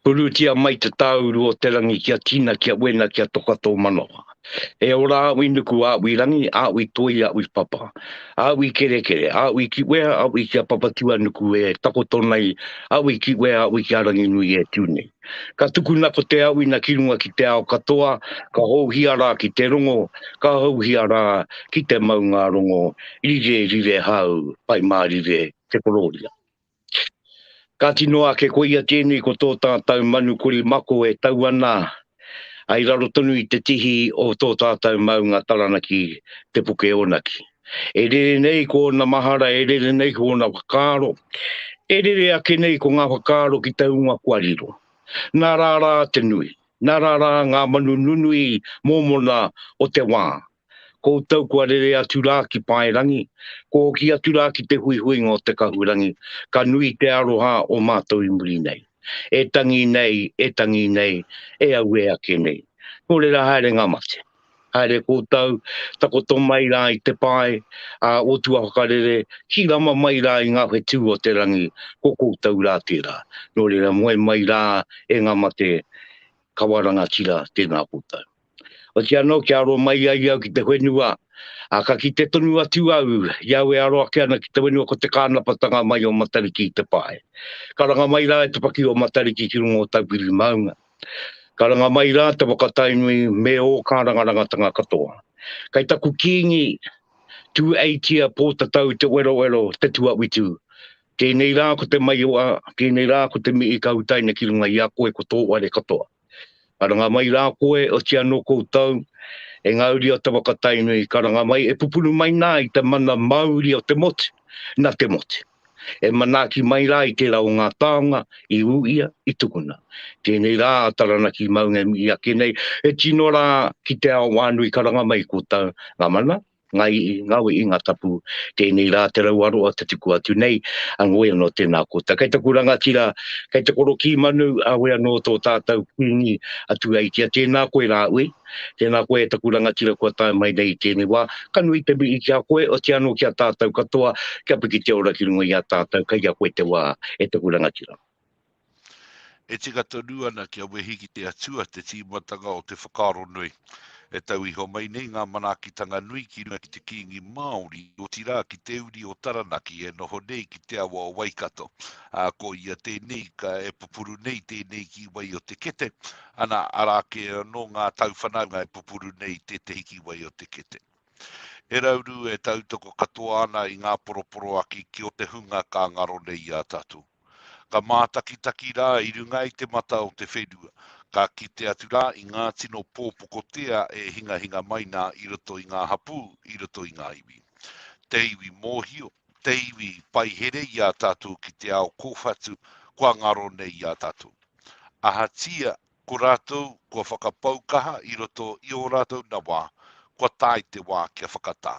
Urutia mai te tāuru o te rangi kia tina, kia wena, kia toka tō manawa. E ora aui nuku, aui rangi, aui toi, aui papa. Aui kerekere, aui kiwea, aui ki a Papatuanuku e takoto nei, aui kiwea, aui ki a Ranginui e tū nei. Ka tukuna ko te auina ki runga ki te ao katoa, ka houhia rā ki te rongo, ka houhia rā ki te maunga rongo, rire, rire hau, pai mārire te korōria. Kāti noa ake koia tēnei ko tō tātau manu kori mako e tau ana ai raro tonu i te tihi o tō tātau maunga Taranaki Te Pukeonaki. E rere nei ko ōna mahara, e rere nei ko ōna whakaaro, e rere ake nei ko ngā whakaaro ki te hunga kua riro. Nā rā rā te nui, nā rā rā ngā manu nunui mōmona o te wā, Koutou kua rere atu rā ki Paerangi, kua hoki atu rā ki te huihuinga o te Kahurangi, ka nui te aroha o mātou i muri nei. E tangi nei, e tangi nei, e auē ake nei. Nō reira haere ngā mate. Haere koutou, takoto mai rā i te pae, ā, otua whakarere, hirama mai rā i ngā whetū o te rangi, ko koutou rā tērā. Nō reira moe mai rā e ngā mate, kawa rangatira, tēnā koutou. Otiia anō kia aro mai ai au ki te whenua, ā, ka kite tonu atu au i au e aro ake ana ki te whenua ko te kānapatanga mai o Matariki i te pae. Karanga mai rā e te paki o Matariki ki runga o Taupiri maunga. Karanga mai rā te whakatainui me ō kārangarangatanga katoa. Kai taku kīngi, Tūeitia Pōtatau Te Werowero, Te Tuawitu, tēnei rā ko te maiora, tēnei rā ko te mihi ka utaina ki runga i a koe ko tō ware katoa. Karanga mai rā koe, oti anō koutou, e ngā uri o te waka Tainui, karanga mai, e pupuru mai nā i te mana māuri o te motu, nā te motu. E manaaki mai rā i tērā o ngā taonga, i ū ia, i tukuna. Tēnei rā a Taranaki Maunga e mihi ake nei, e tino rā ki te ao wānui karanga mai koutou, ngā mana, Ngai Ngawe i nga tapu, tenei ra te rau aroa te tuku atu nei, a ngoe ano tena koutou. Kei taku rangatira, kei te koro ki manu, a we ano to tatou kingi a Tuaitia, tena koe ra ui, tena koe e taku rangatira kua tae mai nei i tenei wa, ka nui te mii ki a koe, otia ano ki a tatou katoa, kia piki te ora ki runga i a tatou, kei a koe te wa, e taku rangatira. E tika tonu ana kia wehi ki te Atua te tīmatanga o te whakaaro nui. E tau iho mai nei ngā manaakitanga nui ki runga ki te Kīngi Māori, otirā ki te uri o Taranaki e noho nei ki te awa o Waikato, ā, ko ia tēnei ka e pupuru nei tēnei ki wai o te kete, ana, arā kē anō ngā tauwhanaunga e pupuru nei tētehi ki wai o te kete. He rauru e tautoko katoa ana i ngā poroporoaki ki o te hunga ka ngaro nei i a tatou. Ka mātakitaki rā i runga i te mata o te whenua, ka kite atu rā i ngā tino pōpokotea e hingahinga mai nā i roto i ngā hapū, i roto i ngā iwi. Te iwi mōhio, te iwi paihere i a tātou ki te ao kōwhatu kua ngaro nei i a tātou. Ahatia Ko rātou kua whakapau kaha i roto i ō rātou nawa, kua tae te wā kia whakatā.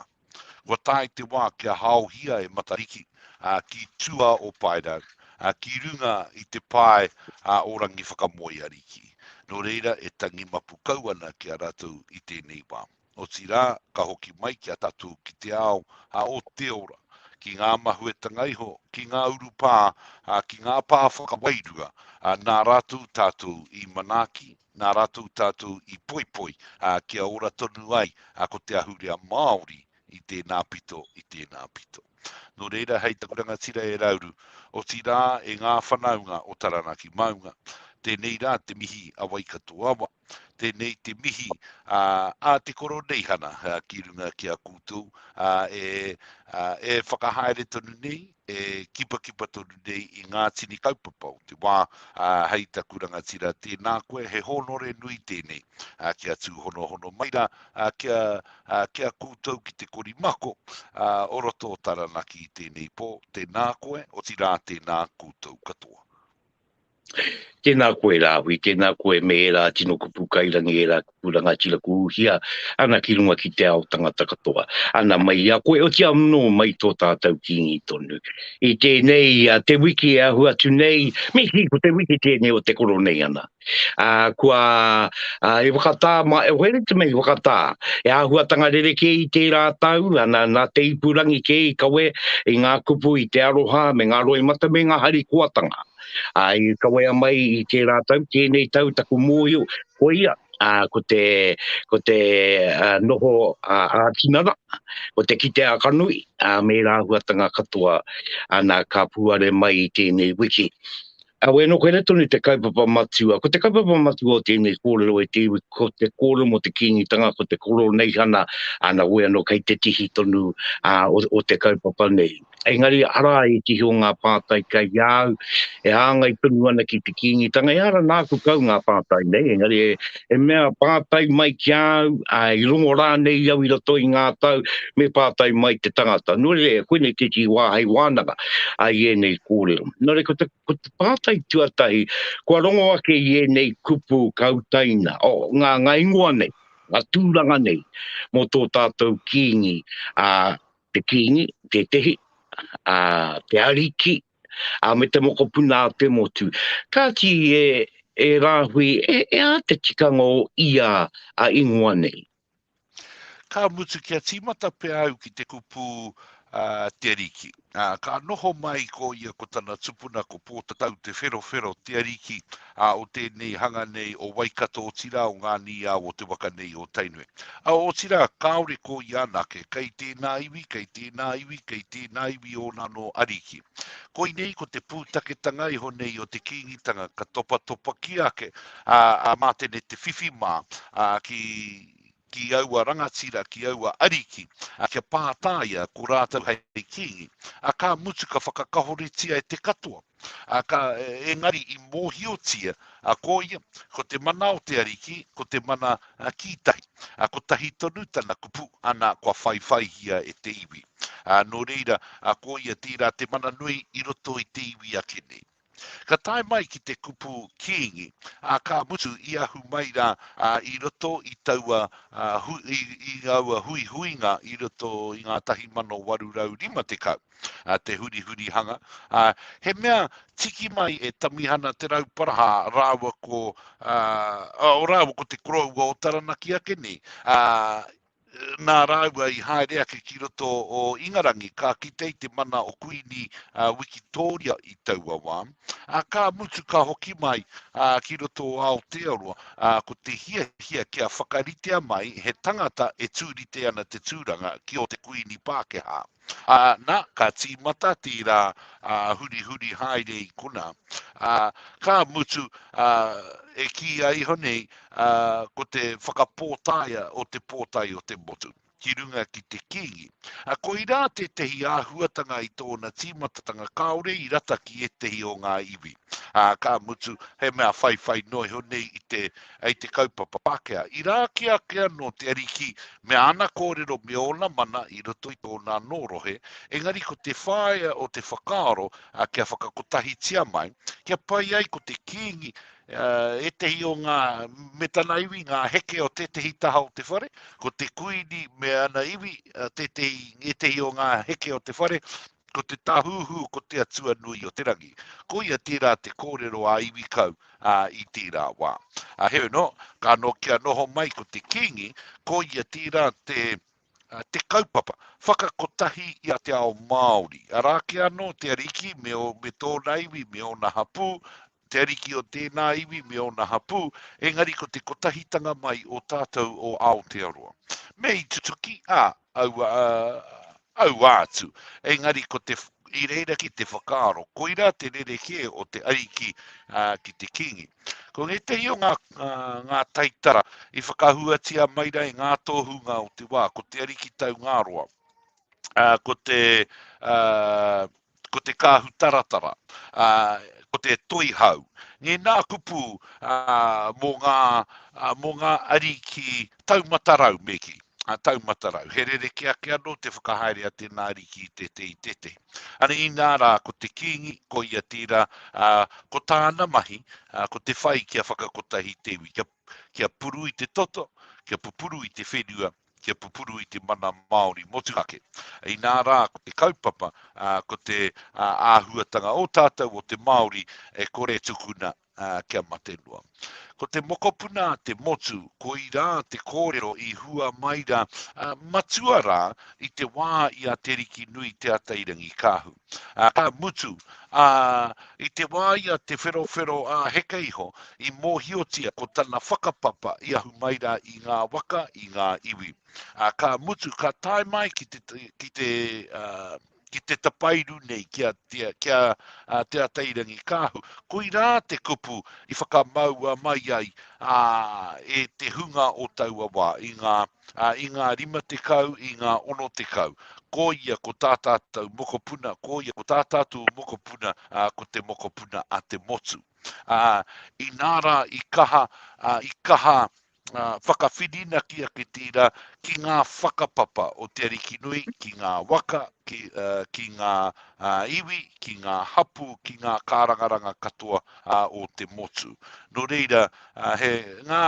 Kua tae te wā kia haohia e Matariki ki tua o Paerau, ki runga i te pae o Rangiwhakamoeariki. Nō reira e tangi mapu kau ana ki a rātou i tēnei wā. otirā, ka hoki mai ki a tatū ki te ao a Oteora, ki ngā mahuetanga iho, ki ngā urupā, ā, ki ngā pā whakawairua, ā, nā rātou tātou i manaaki, nā rātou tātou i poipoi, ā, kia ora tonu ai ko te ahurea Māori i tēnā pito, i tēnā pito. Nō reira hei taku rangatira e Rauru, otirā e ngā whanaunga o Taranaki Maunga, tēnei rā te mihi a Waikato Awa, tēnei te mihi a, a te Koroneihana a, ki runga ki a koutou a, e, a, e whakahaere tonu nei, e kipakipa tonu nei i ngā tini kaupapa o te wā a, hei taku rangatira tēnā koe he hōnore nui tēnei. ā, kia tūhonohono mai rā, ā, kia, ā, kia koutou ki te kori mako, ā, o roto o Taranaki i tēnei pō, tēnā koe, otirā tēnā koutou katoa. Tēnā koe Rāhui, tēnā koe me ērā tino kupu kairangi, ērā kupu rangatira ku uhia ana ki runga ki te ao tangata katoa. Ana mai i a koe, oti anō mai tō tātou kīngi tonu. I tēnei a te wiki e ahu atu nei, mihi ko te wiki tēnei o te koro nei ana. Ā, kua, ā, i whakatā, ma, e where te mea i whakatā, he āhuatanga rerekē i tērā tau, ana, nā te ipurangi kē i kawe i ngā kupu, i te aroha, me ngā roimata, me ngā harikoatanga. Ā, i kawea mai i tērā tau, tēnei tau taku mōhio, koia, ā, ko te, ko te, ā, noho, ā, ā-tinana, ko te kite ā-kanui, ā, me ērā āhuatanga katoa, ana, ka puare mai i tēnei wiki. Aue no koina tonu te kaupapa matua. Ko te kaupapa matua o tēnei kōrero e te iwi, ko te kōrero mo te Kīngitanga, ko te Koroneihana, ana wē anō kei te tihi tonu a, o, o te kaupapa nei. Engari ara e tihi o ngā pātai kei a au, e hāngai tonu ana ki te Kīngitanga, ehara nāku kau ngā pātai nei, engari e, e mea pātai mai ki a au, ā, i rongo rānei au i roto i ngā tau, me pātai mai te tangata. Nō reira, e koinei tētahi wā hei wānanga ai ēnei kōrero. Nō reira, ko te, ko te pātai tuatahi, kua rongo ake i ēnei kupu ka utaina, o oh, ngā, ngā ingoa nei, ngā tūranga nei, mō tō tātou kīngi, ā, te kīngi, tētahi, ā, te ariki, ā, me te mokopuna a te motu. Kāti e, e Rāhui, e, e ā te tikanga o ia a ingoa nei? Ka mutu kia tīmata pea au ki te kupu a Te Ariki. Ā, ka noho mai ko ia ko tana tupuna ko Pōtatau Te Wherowhero Te Ariki, ā, o tēnei hanga nei o Waikato otirā o ngā nīao o te waka nei o Tainui. Ā, otirā, kāore ko ia anake, kei tēnā iwi, kei tēnā iwi, kei tēnā iwi ōna anō ariki. Koinei ko te pūtaketanga iho nei o te Kīngitanga ka topatopakia ake, ā, ā, mā tēnei te whiwhi mā, ā, ki, ki aua rangatira, ki aua ariki, a kia pātā ia, ko rātou hei kīngi, a ka mutu ka whakakahoritia e te katoa, a ka, engari i mōhiotia, a ko ia, ko te mana o te Ariki, ko te mana, a ki tahi, a kotahi tonu tana kupu, ana kua whaiwhaihia e te iwi, a nō reira, a ko ia tērā te mana nui i roto i te iwi ake nei. Ka tae mai ki te kupu kīngi, ā, ka mutu i ahu mai rā i roto i taua, i aua huihuinga i roto i ngā 1850, te hurihurihanga, ā, he mea tiki mai e Tamihana Te Rauparaha rāua ko, ā, rāua ko te koroua o Taranaki ake nei, ā, Nā rāua i haere ake ki roto o Ingarangi, ka kite i te mana o Kuini Wikitōria i taua wā, ā, ka mutu ka hoki mai ki roto o Aotearoa, ā, ko te hiahia kia whakaritea mai he tangata e tūrite ana te tūranga ki ō te Kuini Pākehā. Ā, nā, ka tīmata tērā ā, hurihuri haere i konā. Ā, ka mutu, ā, e kīia iho nei, ā, ko te whakapōtaea o te pōtae o te motu, ki runga ki te kīngi. Ā, koirā tētehi āhuatanga i tōna tīmatatanga kāore i rata ki ētehi o ngā iwi. Ā, ka mutu, he mea whaiwhai noa iho nei i te, Hei te kaupapa Pākehā, i rā ake ake anō te Ariki me Āna kōrero me Ōna mana i roto i tōna anō rohe, engari ko te whāea o te whakaaro kia whakakotahitia mai, kia pai ai ko te Kīngi, ētehi o ngā, me tana iwi, ngā heke o tētehi taha o te whare, ko te Kuini me ana iwi, tētehi, ētehi o ngā heke o te whare, Ko te Tāhuhu ko te atua nui o te rangi. Koia tērā te kōrero a iwi kau, ā, i tērā wā. Ā, heoi anō, ka nōkia noho mai ko te Kīngi, koia tērā te, te kaupapa, whakakotahi i a te ao Māori, arā kē anō te Ariki me, me tōna iwi, me ōna hapū, Te Ariki o tēnā iwi me ōna hapū, engari ko te kotahitanga mai o tātou o Aotearoa. Me i tutuki, ā, aua, aua atu. Engari ko te, i reira ki te whakaaro, koirā te rerekē o te Ariki ā, ki te Kīngi. Ko ngētehi o ngā, ā, ngā taitara i whakahuatia mai rā i ngā tōhunga o te wā, ko te Ariki Taungāroa, ā, ko te, ā, ko te kāhu taratara, ā, ko te toihau. Nē nā kupu, ā, mō ngā, ā, mō ngā ariki taumatarau me kī, ā, taumatarau. He rerekē ake anō te whakahaere a tēnā ariki i te te i te te. Ana inā rā, ko te kīngi, ko ia tērā, ā, ko tāna mahi, ā, ko te whai kia whakakotahi te iwi, kia, kia puru i te toto, kia pupuru i te whenua, kia pupuru i te mana Māori motuhake. Inā rā, ko te kaupapa, ko te āhuatanga o tātou, o te Māori, e kore e tukuna kia mate noa. Ko te mokopuna te motu, koirā te kōrero i hua mai rā, matua rā i te wā i a Te Rikinui Te Atairangikaahu. Ka mutu, ā, i te wā i a Te Wherowhero ā heke iho, i mōhiotia ko tana whakapapa i ahu mai rā i ngā waka, i ngā iwi. Ā, ka mutu, ka tae mai ki te, ki te, ā, ki te tapairu nei ki a, ki a, ki a, ā, Te Atairangikaahu. Koirā te kupu i whakamaua mai ai, ā, e te hunga o taua wā i ngā, ā, i ngā rima tekau, i ngā ono tekau, ko ia ko tā tātou mokopuna, ko ia ko tā tātou mokopuna, ā, ko te mokopuna a te motu. Ā, inā rā i kaha, ā, i kaha, ā, whakawhirinaki ake tērā ki ngā whakapapa o te arikinui ki ngā waka, ki, ā, ki ngā, ā, iwi, ki ngā hapū, ki ngā kārangaranga katoa, ā, o te motu. Nō reira, ā, he ngā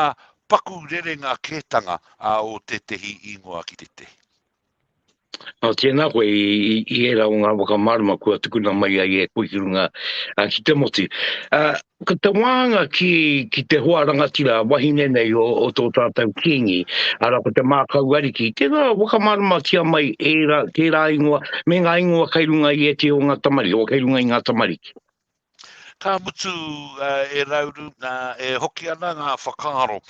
paku rerenga kētanga a o tētehi īngoa ki tētehi. Nā tēnā koe i, i, i ērā o ngā whakamārama kua tukuna mai ai e koe ki runga a, ki te motu. A, ko te wānga ki, ki te hoa rangatira wahine nei o, o tō tātou kīngi, ara ko te mākau ariki, tērā whakamārama tia mai ērā, tērā ingoa, me ngā ingoa kai runga i e te o ngā tamariki, o kai runga i ngā tamariki. Ka mutu e rauru, e hoki ana ngā whakaaro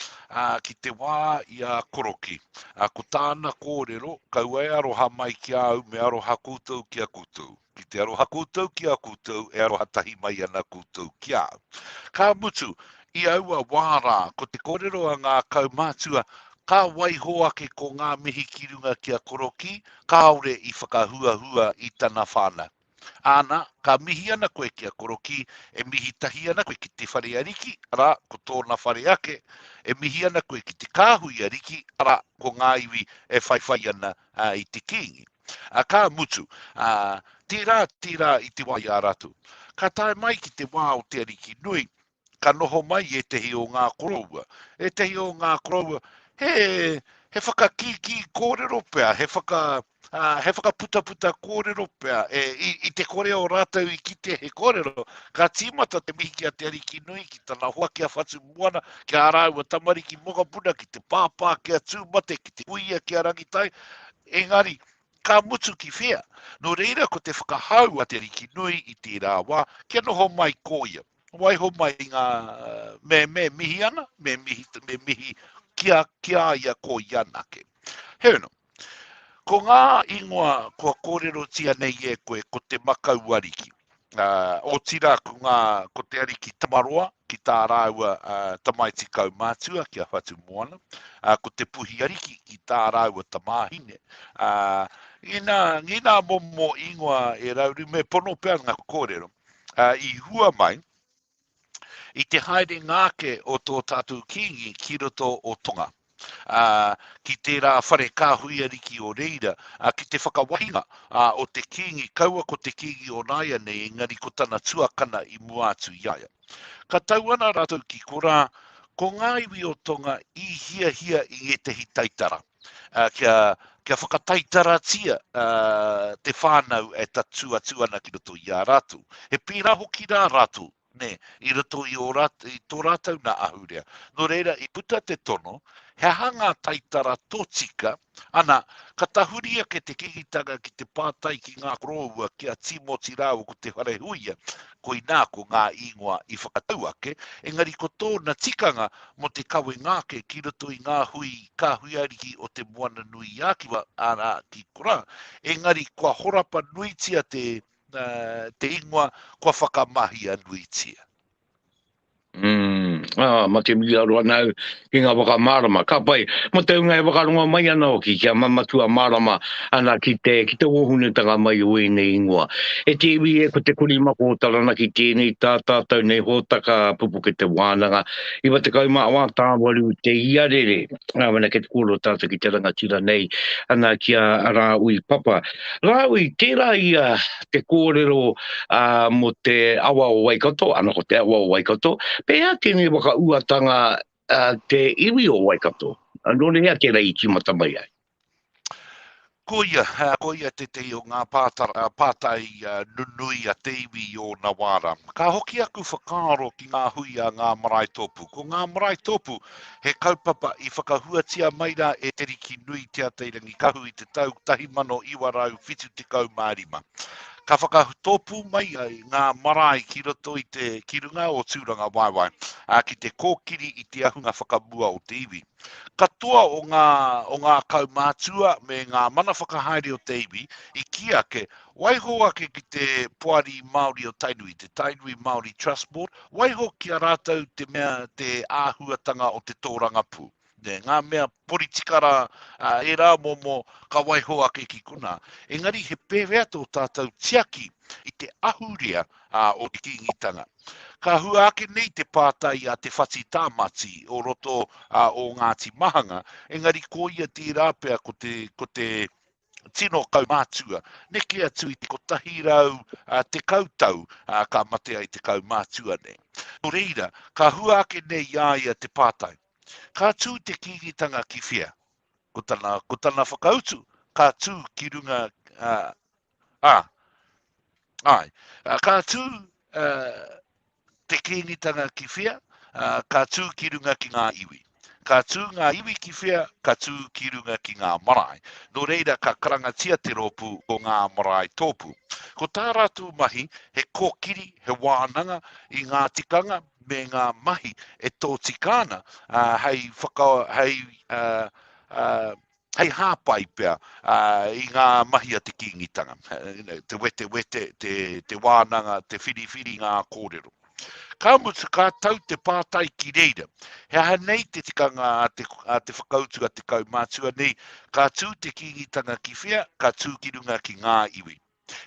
ki te wā i a Koroki. Ko tāna kōrero, kaua e aroha mai ki a au me aroha koutou ki a koutou. Ki te aroha koutou ki a koutou, e aroha tahi mai ana koutou ki a au. Ka mutu, i aua wā rā, ko te kōrero a ngā kaumātua, ka waiho ake ko ngā mihi ki runga ki a Koroki, kāore i whakahuahua i tana whānau. Ana, ka mihi ana koe ki a Korokī, e mihi tahi ana koe ki te whare a Riki, arā, ko tōna whare ake, e mihi ana koe ki te kāhui a Riki, arā, ko ngā iwi e whaiwhai ana i te kīngi. Ā, ka mutu, ā, tērā, tērā i te wā i a rātou. Ka tae mai ki te wā o te Ariki nui, ka noho mai i ētehi o ngā koroua. Ētehi o ngā koroua, he, he whakakīkī kōrero pea, he, whaka, uh, he whakaputaputa kōrero pea. E, i, i te kore o rātou i kite he kōrero, ka tīmata te mihi ki a Te Ariki Nui, ki tana hoa ki a Whatu Moana, ki a rāua tamariki mokapuna, ki te pāpā ki a Tūmate, ki te kuia ki a Rangitai. Engari, ka mutu ki whea. Nō reira ko te whakahau a Te Ariki Nui i tērā wā, kia noho mai ko ia. Waiho mai i ngā me, me mihi ana, me mihi, me mihi kia, kia ia ko ia nake. He ono, ko ngā ingoa kua kōrero tia nei e koe ko te makau ariki. Uh, o tira ko, ngā, ko te ariki tamaroa ki tā rāua uh, tamaiti kaumātua ki a Whatu Moana, uh, ko te puhi ariki ki tā rāua tamāhine. Uh, ngina, ngina momo ingoa e rauru, me pono pea ngā kōrero. ā, i hua mai i te haerenga ake o tō tātou Kīngi ki roto o Tonga, ā, ki tērā whare kāhui ariki o reira, ā, ki te whakawahinga, ā, o te Kīngi, kaua ko te Kīngi o nāianei, engari ko tana tuakana i mua atu i a ia. Ka tau ana rātou ki korā, ko ngā iwi o Tonga i hiahia i ngētehi taitara. kia, kia whakataitaratia uh, te whānau e tatu atu ana ki roto i a rātou. He pīra hoki rā rātou, ne, i roto i, o rat, i tō rātou nā ahurea. Nō reira, i puta te tono, he aha ngā taitara tōtika, ana, ka tahuri ake te kikitanga ki te pātai ki ngā koroua, ki a Timoti rāua ko te wharehuia, koinā ko ngā īngoa i whakatau ake, engari ko tōna tikanga mō te kawenga ake ki roto i ngā hui kāhui ariki o Te Moananui-a-Kiwa, arā, ki Korā, engari kua horapa nuitia te ingoa, kua whakamahia nuitia. Umm, ā, mate wīaro ana au ki ngā whakamārama, ka pai, mō te hunga e whakarongo mai ana hoki kia mamatua mārama ana ki te, ki te wōhunutanga mai o ēnei ingoa. E te iwi e, ko te kurī mako o Taranaki tēnei, tā tātou nei hōtaka pupuke te wānanga, 94 tāwaru te iarere, ā, wena kei te kōrero tātou ki te rangatira nei, ana ki a Rāui Papa. Rāui, tērā ia te kōrero uh, mo te awa o Waikato, ana ko te awa o Waikato, pe ea tēnei waka uatanga uh, te iwi o Waikato? Nō ne hea tēnei i tīmata mai ai? Ko ia, uh, ko ia te te o ngā pātai, uh, pātai uh, nunui a te iwi o Nawara. Ka hoki aku whakaaro ki ngā hui a ngā marae tōpū. Ko ngā marae tōpū, uh, He kaupapa i whakahuatia mai rā e Te Riki Nui Te Atairangi Kahu i te tau 1975. Ka whakatōpū mai ai ngā marae ki roto i te ki runga o Tūrangawaewae, ā, ki te kōkiri i te ahunga whakamua o te iwi. Katoa o ngā, o ngā kaumātua me ngā mana whakahaere o te iwi i kī ake Waiho ake ki te Poari Māori o Tainui, te Tainui Māori Trust Board, waiho ki a rātou te mea te āhuatanga o te tōrangapū. Nē, ngā mea poritika rā, ā, ērā momo ka waiho ake ki konā. Engari he pēwhea tō tātou tiaki i te ahurea, ā, o te Kīngitanga? Ka hua ake nei te pātai a Te Whati Tāmati o roto, ā, o Ngāti Mahanga, engari ko ia tērā pea ko te, ko te, tino kaumātua. Neke atu i te 110 tau ka mate ai te kaumātua nei. Nō reira, ka hua ake nei i a ia te pātai, Ka tū te kīngitanga ki whea? Ko tana, ko tana whakautu, ka tū ki runga, ā, Ai, ka tū te kīngitanga ki whia, ka tū ki runga ki ngā iwi. Ka tū ngā iwi ki whia, ka tū ki runga ki ngā marae. Nō reira ka karangatia te rōpū ko ngā marae tōpū. Ko tā rātou mahi he kōkiri, he wānanga i ngā tikanga me ngā mahi e tōtika ana hei whaka, hei, uh, uh, hei hāpai pea i ngā mahi a te Kīngitanga, te wetewete, te wānanga, te whiriwhiri i ngā kōrero. Ka mutu, ka tau te pātai ki reira, he aha nei te tikanga a te, a te whakautu a te kaumātua nei, ka tū te Kīngitanga ki whea, ka tū ki runga ki ngā iwi.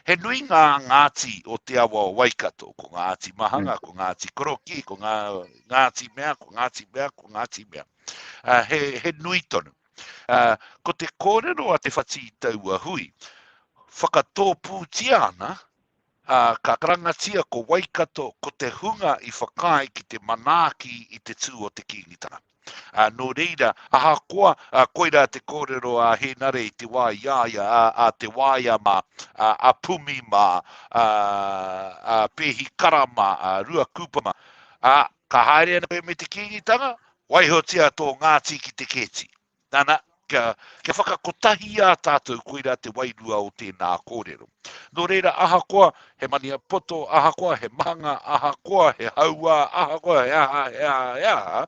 He nui ngā Ngāti o te awa o Waikato, ko Ngāti Mahanga, mm. ko Ngāti Koroki, ko ngā, Ngāti Mea, ko Ngāti Mea, ko Ngāti Mea. Uh, he, he nui tonu. Uh, ko te kōrero a te whati i taua hui, whakatōpūtia ana, uh, ka karangatia ko Waikato, ko te hunga i whakaae ki te manaaki i te tū o te kīngitanga. Ā, nō reira, ahakoa koirā te kōrero a Hēnare i te wā i a ia, a Te Waea mā, a Pumi mā, a Pēhi Kara mā, a Rua Kupa mā, ā, ka haere ana koe me te Kīngitanga, waihotia tō Ngāti ki te kēti. Nana, kia, kia whakakotahia tātou koirā te wairua o tēnā kōrero. Nō reira, ahakoa he maniapoto, ahakoa he mahanga, ahakoa he hauā, ahakoa he aha, he aha, he aha,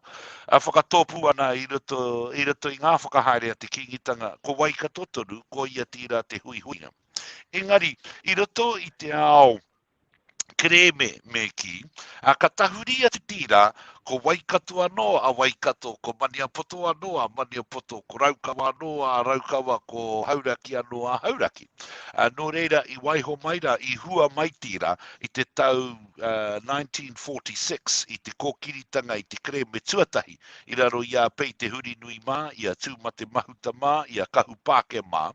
a whakatōpū ana i roto, i roto i ngā whakahaere a te Kīngitanga, ko Waikato tonu, ko ia tīrā te huihuinga. Engari, i roto i te ao, kerēme me kī, ā, ka tahuri a Te Tīra, ko Waikato anō a Waikato, ko Maniapoto anō a Maniapoto, ko Raukawa anō a Raukawa, ko Hauraki anō a Hauraki. Ā, nō reira, i waiho mai rā, i hua mai Tīra i te tau ā, 1946 i te kōkiritanga i te kerēme tuatahi i raro i a Pei Te Hurinui mā, i a Tūmate Mahuta mā, i a Kahupāke mā.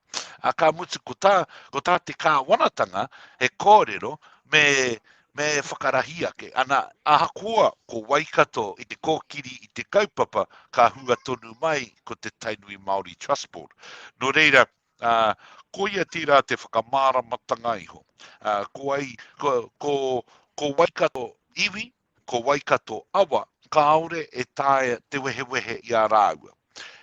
Ā, ka mutu, ko tā, ko tā te kāwanatanga he kōrero me, me whakarahi ake. Ana, ahakoa ko Waikato i te kōkiri i te kaupapa, ka hua tonu mai ko te Tainui Māori Trust Board. Nō reira, uh, koia tērā te whakamāramatanga iho. Uh, ko ai, ko, ko, ko Waikato iwi, ko Waikato awa, kāore e taea te wehewehe i a rāua.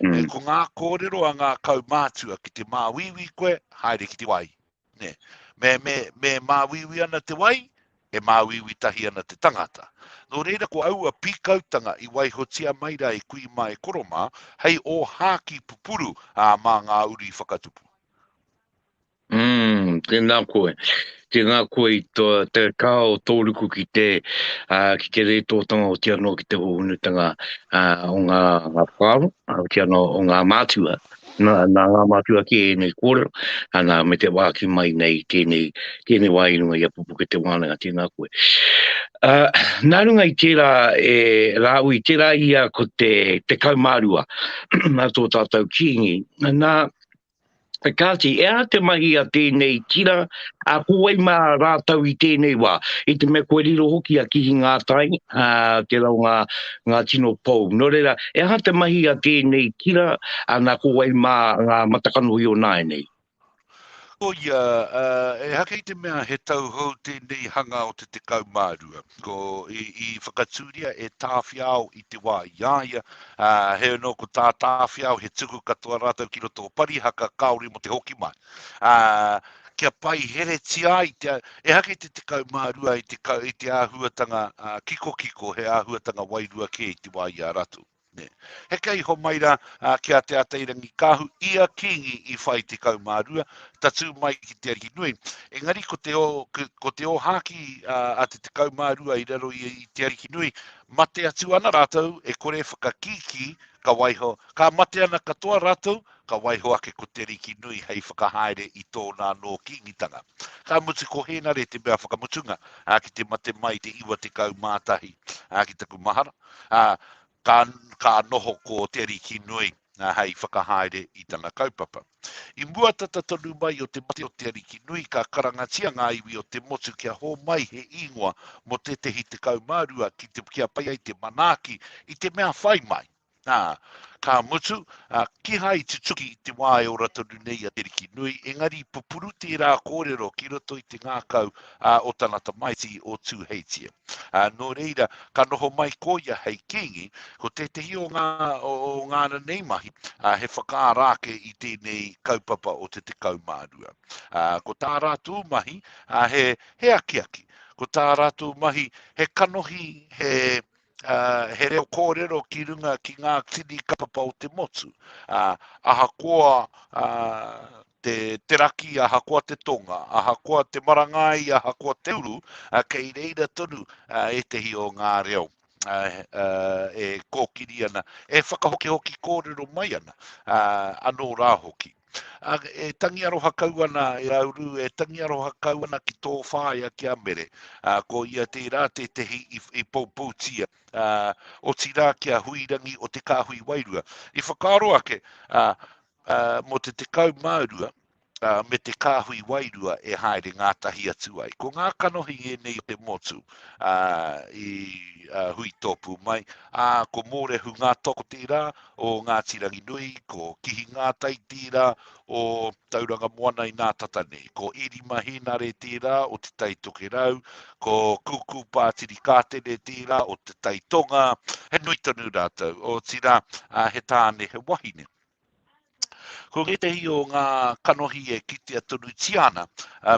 Mm. Ko ngā kōrero a ngā kaumātua ki te māuiui koe, haere ki te wai. Ne. Me, me, me māuiui ana te wai, e māuiui tahi ana te tangata. Nō reira ko aua pīkautanga i waihotia mai rā i kui mai koromā, hei o hāki pupuru ā, mā ngā uri whakatupu. Umm, tēnā koe. Tēnā koe i tō, te kaha o tō ruku ki te, uh, ki te rētōtanga o tia noa ki te hohonutanga uh, o ngā, ngā whāro, uh, ki ano o ngā mātua. Nā, nā ngā mātua ki ēnei kōrero, ana me te wāki mai nei tēnei, tēnei wā i runga i a pupuke te wānanga, tēnā koe. Uh, nā runga i tērā, e, rāu i tērā ia ko te, te kaumārua, nā tō tātou kīngi, nā, Kāti, e aha te mahi a tēnei tira, ā, ko wai mā rātou i tēnei wā? I te mea kua riro hoki a Kihi Ngātai, ā, tērā o ngā, ngā tino pou. Nō reira, e aha te mahi a tēnei tira, ā, nā ko wai mā ngā matakanohi o nāianei? Ko ia, ā, e haka i te mea he tau hou tēnei hanga o te 12. Ko, i, i whakatūria e Tāwhiao i te wā i a ia, Ā, heoi anō ko tā Tāwhiao he tuku katoa rātou ki roto o Parihaka kāore mō te hoki mai, ā, kia pai heretia ai te, ehake i te tekau mā rua i te, i te āhuatanga kikokiko, he āhuatanga wairua kē i te wā i a ratu. Nē. Heke iho mai rā ki a Te Atairangikaahu, ia kīngi i whai tekau mā rua, tatū mai ki te arihi nui. Engari ko te, ko te ōhākī a te tekau mā rua i raro i te arihi nui, Mate atu ana rātou e kore whakakīkī, ka waiho, ka mate ana katoa rātou, ka waiho ake ko Te Riki Nui hei whakahaere i tōna anō kīngitanga. Ka mutu ko Hēnare te mea whakamutunga, ā, ki te mate mai i te 91, ā, ki taku mahara, ā, ka, ka noho ko Te Riki Nui, ā, hei whakahaere i tana kaupapa. I mua tata tonu mai o te mate o te Ariki nui ka karangatia ngā iwi o te motu kia hōmai he īngoa mō tētehi tekau mā rua ki te kia pai ai te manaaki i te mea whai mai. Ā, ka mutu, ā, kīhai i tutuki i te wā e ora tonu nei a te Ariki nui, engari i pupuru tērā kōrero ki roto i te ngākau, ā, o tana tamaiti, o Tūheitia. Ā, nō reira, ka noho mai ko ia hei kīngi, ko tētehi o ngā, o, o ngā ranei mahi, ā, he whakaara ake i tēnei kaupapa o te tekau mā rua. Ā, ko tā rātou mahi, ā, he, he akiaki. Ko tā rātou mahi, he kanohi, he, Uh, he reo kōrero ki runga ki ngā tini kapapa o te motu. Uh, ahakoa uh, te te raki ahakoa te tonga, ahakoa te marangai, ahakoa te uru, uh, kei reira tonu uh, ētehi o ngā reo uh, uh, e kōkiri ana, e whakahokihoki kōrero mai ana, uh, anō rā hoki. A, e tangi aroha kau ana e auru, e tangi aroha kau ana ki tō whāia ki a mere. A, ko ia tērā tētehi i, i poupoutia, a, o tirā ki a huirangi o te kāhui wairua. I whakaaro ake, a, mō te tekau mā rua, me te kāhui wairua e haere ngātahi atu ai. Ko ngā kanohi ēnei o te motu i hui tōpū mai, ā, ko Mōrehu ngā toko tērā o Ngāti Ranginui, ko Kihi Ngātai tērā o Tauranga Moana i Nātata nei, ko Erima Hēnare tērā o Te Tai Tokerau, ko Kūkū Pātiri Kātene tērā o Te Tai Tonga, he nui tonu rātou, otirā he tāne, he wahine. Ko ngētehi o ngā kanohi e kitea tonutia ana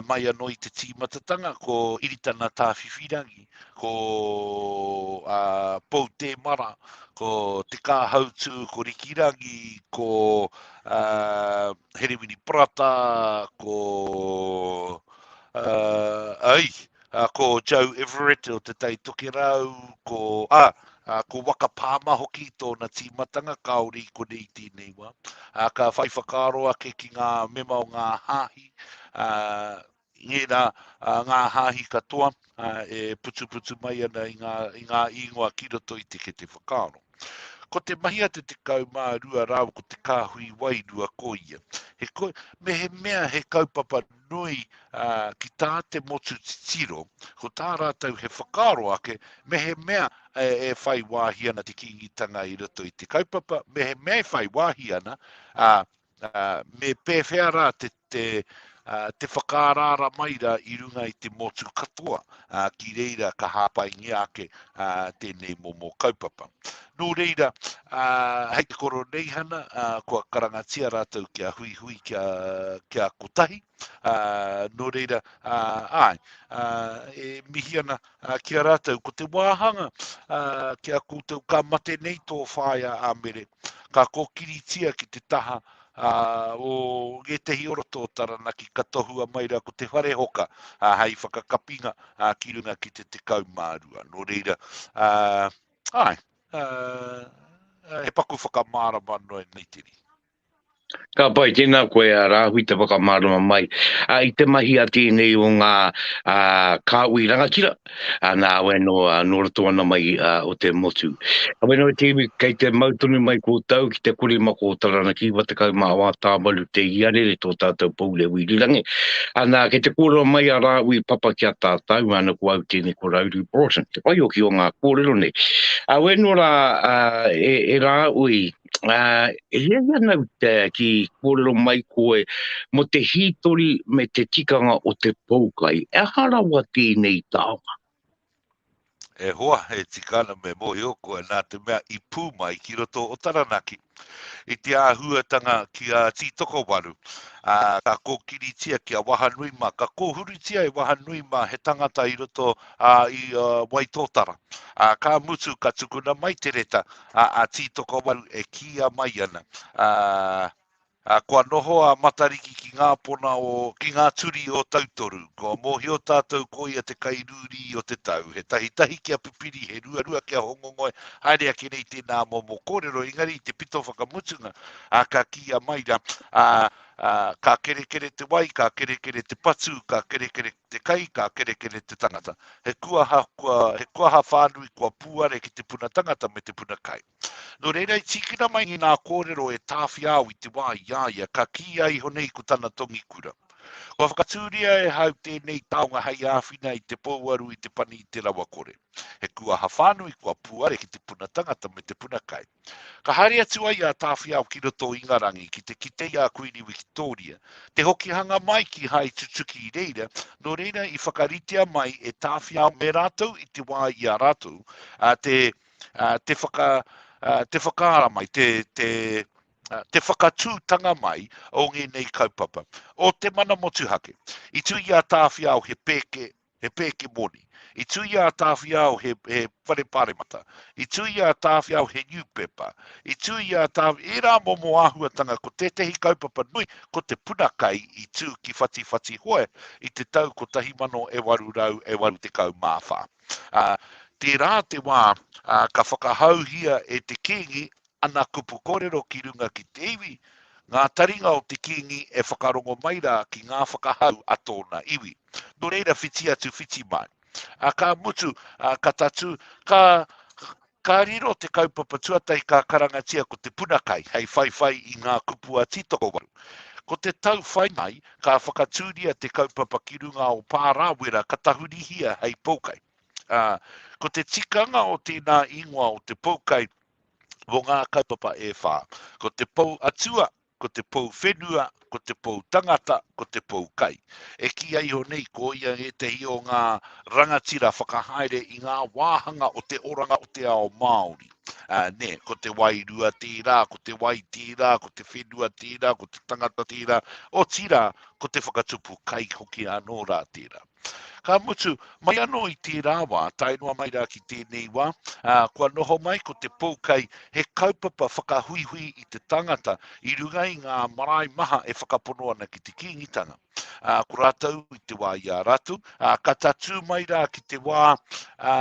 mai anō i te tīmatatanga ko Iritana Tāwhiwhirangi, ko uh, Pou Tēmara, ko Te Kāhautū, ko Rikirangi, ko uh, Herewini Prata, ko... Uh, ai, Uh, ko Joe Everett o Te Tai Tokerau, ko, ah, uh, ko Waka Pāma hoki tōna tīmatanga, kāore i kone i tēnei wā. Uh, ka whai whakaaro ake ki ngā mema o ngā hāhi, uh, ngērā uh, ngā hāhi katoa uh, e putuputu mai ana i ngā, i ngā ingoa ki roto i te kete whakaaro. Ko te mahi a te tekau mā rua rāu ko te kāhui wai rua ko ia. He ko, me he mea he kaupapa nui ki tā te motu titiro, ko tā rātou he whakaaro ake, mehemea e whai wāhi ana te kīngitanga i roto i te kaupapa, mehemea e whai wāhi ana, ā, me pēwhea rā te, te, te whakaaraara mai rā i runga i te motu katoa, ki reira ka hāpaingia ake tēnei momo kaupapa. Nō reira, hei te Koroneihana, kua karangatia rātou kia huihui kia, kia kotahi. Nō reira, ai, e mihi ana ki a rātou, ko te wāhanga ki a koutou ka mate nei tō whāia a Mere, ka kōkiritia ki te taha o ngētehi oroto o Taranaki ka tohua mai rā ko te whare hoka hei whakakapinga ki runga ki te tekau mā rua. Nō reira, Ae, he paku whakamārama noa i nei tini. Ka pai, tēnā koe a Rāhui te whakamārama mai. A, i te mahi a tēnei o ngā a, kāhui rangatira, a, nā awe no, a, no roto ana mai a, o te motu. Awe no te iwi, kei te mau tonu mai koutou ki te kore ma kō Taranaki, wa tekau ma wā tāwaru te iarere tō tātou pou reo irirangi. Ana, kei te kōrero mai a Rāhui papa ki a tātou, ana ko au tēnei ko Rauru Broughton. te whaioki o ngā kōrero nei. A wē nō rā, e, e rā ui, a, e hea hea nau te ki kōrero mai koe mo te hītori me te tikanga o te poukai. E aha rawa tēnei tāonga? E hoa, e tikana me mohio koe nā te mea i pū mai ki roto o Taranaki. I te āhuatanga ki a Tītokowaru, ā, ka kōkiritia ki a Wahanui mā, ka kōhurutia e Wahanui mā he tangata i roto ā, i ā, Waitōtara. Ā, ka mutu ka tukuna mai te reta, ā, a Tītokowaru e kīia mai ana, ā, Ā, kua noho a Matariki ki ngā pona o, ki ngā turi o Tautoru. Kua mōhio tātou ko ia te kai rūrī o te tau, he tahitahi kia pipiri, he ruarua kia hongongoe, haere ake nei tēnā momo kōrero, engari i te pito whakamutunga, ā, ka kīia mai rā, ā, ā, ka kerekere te wai, ka kerekere te patu, ka kerekere te kai, ka kerekere te tangata. He kuaha, kua, he kuaha whānui kua pūare ki te puna tangata me te puna kai. Nō reira i tīkina mai ngā kōrero e Tāwhiao i te wā i a ia ka kīia iho nei ko tana tongi kura. Kua whakatūria e Hau tēnei taonga hei āwhina i te pouaru i te pani i te rawakore. He kūaha whānui kua puare ki te puna tangata me te puna kai. Ka haere atu ai a Tāwhiao ki roto o Ingarangi ki te kite i a Kuini Wikitōria. Te hokihanga mai ki Hai tutuki i reira, nō reira i whakaritea mai e Tāwhiao me rātou i te wā i a rātou, ā, te te whakaara mai, te whakatūtanga mai o ngēnei kaupapa. O te mana motuhake, i tū i a Tāwhiao he pēke, he pēke moni. I tū i a Tāwhiao he whare pāremata. I tū i a Tāwhiao he niupepa. I tū i a Tāwhiao, ērā momo āhuatanga ko tētehi kaupapa nui, ko te puna kai i tū ki Whatiwhatihoe i te tau 1984. Ā, tērā te wā, ā, ka whakahauhia e te kīngi ana kupu kōrero ki runga ki te iwi, ngā taringa o te kīngi e whakarongo mai rā ki ngā whakahau a tōna iwi. Nō reira, whiti atu, whiti mai. Ā, ka mutu, ā, ka tatū, ka, Ka riro te kaupapa tuatahi ka karangatia ko Te Puna Kai hei whaiwhai i ngā kupu a Tītokowaru. Ko te tau whai mai, ka whakatūria te kaupapa ki runga o Pārāwera ka tahurihia hei poukai. Ā, ko te tikanga o tēnā ingoa o te poukai mō ngā kaupapa e whā, ko te pou atua ko te pou whenua, ko te pou tangata, ko te pou kai. E kīia iho nei ko ia ētehi o ngā rangatira whakahaere i ngā wāhanga o te oranga o te ao Māori. Ā, nē, ko te wairua tērā, ko te wai tērā, ko te whenua tērā, ko te tangata tērā, otirā, ko te whakatupu kai hoki anō rā tērā. Ka mutu, mai anō i tērā wā, tae noa mai rā ki tēnei wā, ā, kua noho mai ko te poukai he kaupapa whakahuihui i te tangata i runga i ngā marae maha e whakapono ana ki te Kīngitanga. Ā, ko rātou i te wā i a rātou, ā, ka tatū mai rā ki te wā ā,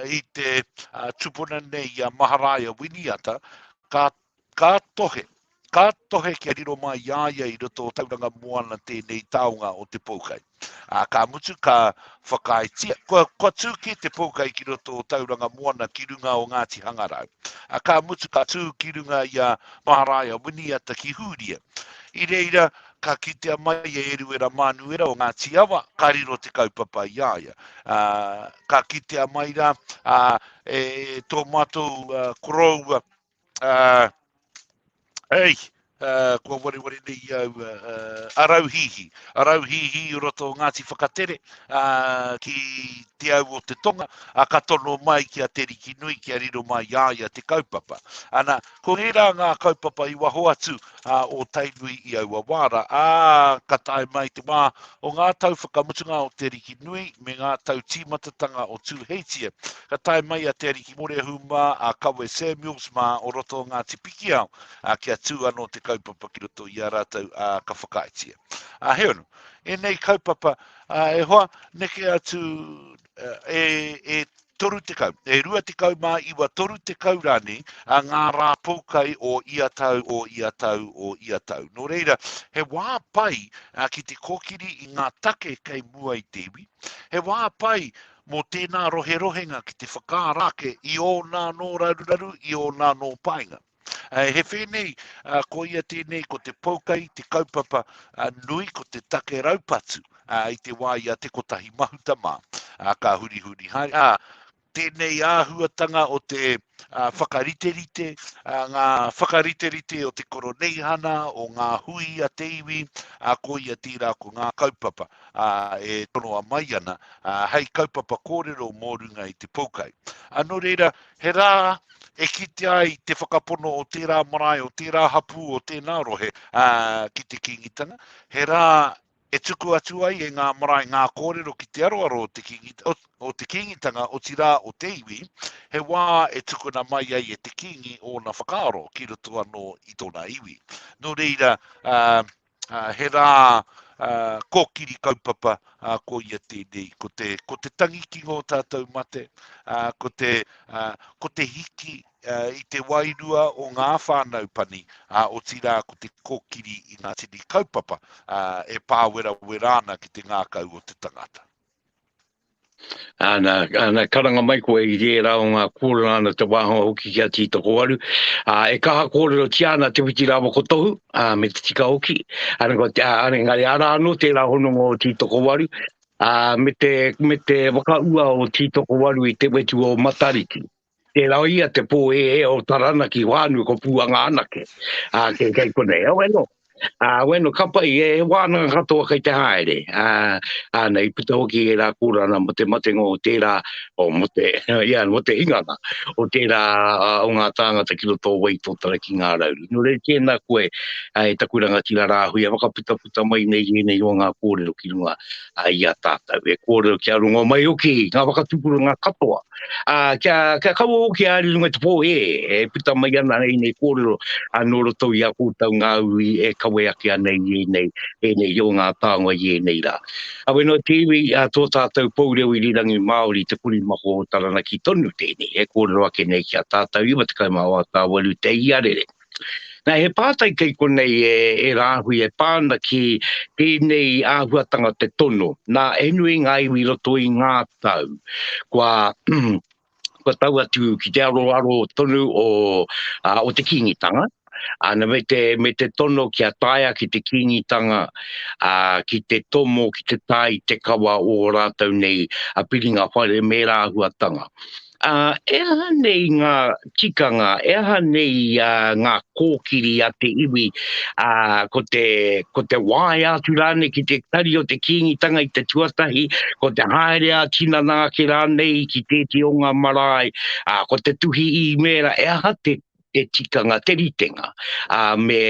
i te ā, tupuna nei i a Maharaia Winiata, ka Ka tohe, ka tohe kia riro mai i a ia i roto o Tauranga Moana tēnei taonga o te poukai. Ā, ka mutu ka whakaaetia, kua, kua tū kē te poukai ki roto o Tauranga Moana ki runga o Ngāti Hangarau. Ā, ka mutu ka tū ki runga i a Maharaia Winiata ki Hūria. I reira, ka kitea mai e Eruera Mānuera o Ngāti Awa, ka riro te kaupapa i a ia. Ā, ka kitea mai rā, ā, e tō mātou koroua, Uh, hey, uh, kua wareware nei i au uh, uh, arauhihi. Arauhihi i roto o Ngāti Whakatere uh, ki te au o te tonga, a ka tono mai ki a Te Riki Nui, ki a riro mai i aia te kaupapa. Ana, ko ērā ngā kaupapa i waho atu ā, o Tainui i aua wāra, ā, ka tae mai te wā o ngā tau whakamutunga o Te Ariki Nui me ngā tau tīmatatanga o Tūheitia. Ka tae mai a Te Ariki Moreahu mā, a Kawe Samuels mā o roto o Ngāti Pikiao, ā, kia tū anō te kaupapa ki roto i a rātou, ā, ka whakaaetia. Ā, heoi anō, ēnei kaupapa, ā, e hoa, neke atu, e, e toru tekau, e rua tekau mā iwa toru tekau rānei a ngā rā poukai o ia tau, o ia tau, o ia tau. Nō reira, he wā pai a, ki te kōkiri i ngā take kei mua i te iwi, he wā pai mō tēnā roherohenga ki te whakaarake i ōna nō raruraru, i ōna nō painga. He whēnei, ko ia tēnei, ko te Poukai, te kaupapa nui, ko te take raupatu i te wā i a Te Kotahi Mahuta mā, ka hurihuri hai. Tēnei āhuatanga o te whakariterite, ngā whakariterite o te Koroneihana, o ngā hui a te iwi, ko ia tērā ko ngā kaupapa e tonoa mai ana hei kaupapa kōrero mō runga i te Poukai. Nō reira, He rā e kitea ai te whakapono o tērā marae, o tērā hapū, o tēnā rohe ki te Kīngitanga. He rā e tuku atu ai e ngā marae ngā kōrero ki te aroaro o te Kīngitanga, o te Kīngitanga, otirā o te iwi, he wā e tukuna mai ai e te Kīngi ōna whakaaro ki roto anō i tōna iwi. Nō reira, He rā kōkiri kaupapa ko ia tēnei, ko te, ko te tangi ki ngō tātou mate, ko te, ko te hiki i te wairua o ngā whānau pani, otirā ko te kōkiri i ngā tini kaupapa e pāwerawera ana ki te ngākau o te tangata. Āna, āna karanga mai koe i rērā o ngā kōrero āna te wāhanga hoki ki a Tītokowaru. Ā, e kaha kōrero tia ana Te Whiti Rāwa ko Tohu, ā, me te tika hoki. Āna, ko, ā, engari arā anō tērā hononga o Tītokowaru, ā, me te, me te whakaua o Tītokowaru i te wetu o Matariki. Tērā o ia te pō e e o Taranaki whānui ko Pūanga anake. Ā, kei, kei konei. Awe nō. Ā, awe nō, ka pai, e wānanga katoa kei te haere. Ā, ā, nei, i puta hoki e rā kōrana mō te matenga o tērā, o mō te, ia, mō te hinganga, o tērā, ā, o ngā tāngata ki roto o Wai Tōtara ki Ngā Rauru. Nō reira, tēnā koe, ā, e taku rangatira rāhui e whakaputaputa mai nei i ēnei o ngā kōrero ki runga. a i a tātou e kōrero kia rongo mai hoki ngā whakatupuranga katoa. A, kia, kia kaua hoki a ari runga te pō e, e puta mai ana e nei kōrero a nō roto i a kōtau ngā ui e kawe ake ana i e nei, e nei i o ngā tānga i e nei rā. A weno te iwi a tō tātou pou reo i rirangi Māori te kuri mako o Taranaki tonu tēnei e kōrero ake nei ki a tātou 98 te iarere. Nā, he pātai kei konei e, e rāhui e pā ana ki tēnei āhuatanga te tono. Nā, he nui ngā iwi i roto i ngā tau. Kua, kua tau atu ki te aroaro tonu o, a, o te kīngitanga, ana me te, me te tono ki a taia ki te kīngitanga, a, ki te tomo, ki te tae i te kawa o rātou nei a piringa whare me rāhuatanga. Ā, e aha nei ngā tikanga, e aha nei ngā kōkiri a te iwi, ā, ko te, ko te waea atu rānei ki te tari o te Kīngitanga i te tuatahi, ko te haere ā-tinana ake rānei ki tēti o ngā marae, ā, ko te tuhi īmēra, e aha te, te tikanga, te ritenga, ā, me,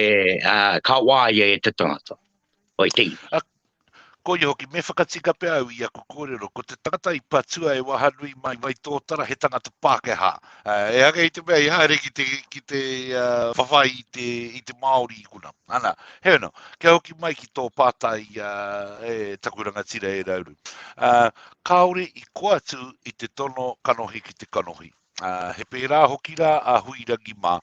ā, ka waea e te tangata. Oi te iwi. A, ko ia hoki, me whakatika pea au i aku kōrero, ko te tangata i patua e Wahanui mai, mai tōtara, he tangata Pākehā. Uh, e hake i te mea, i haere ki te, ki te uh, whawhai i te, i te Māori i kuna. Ana, he ana, kia hoki mai ki tō pātai uh, e taku rangatira e rauru. Uh, kāore i koatu i te tono kanohi ki te kanohi. He pērā hoki rā a Huirangi mā,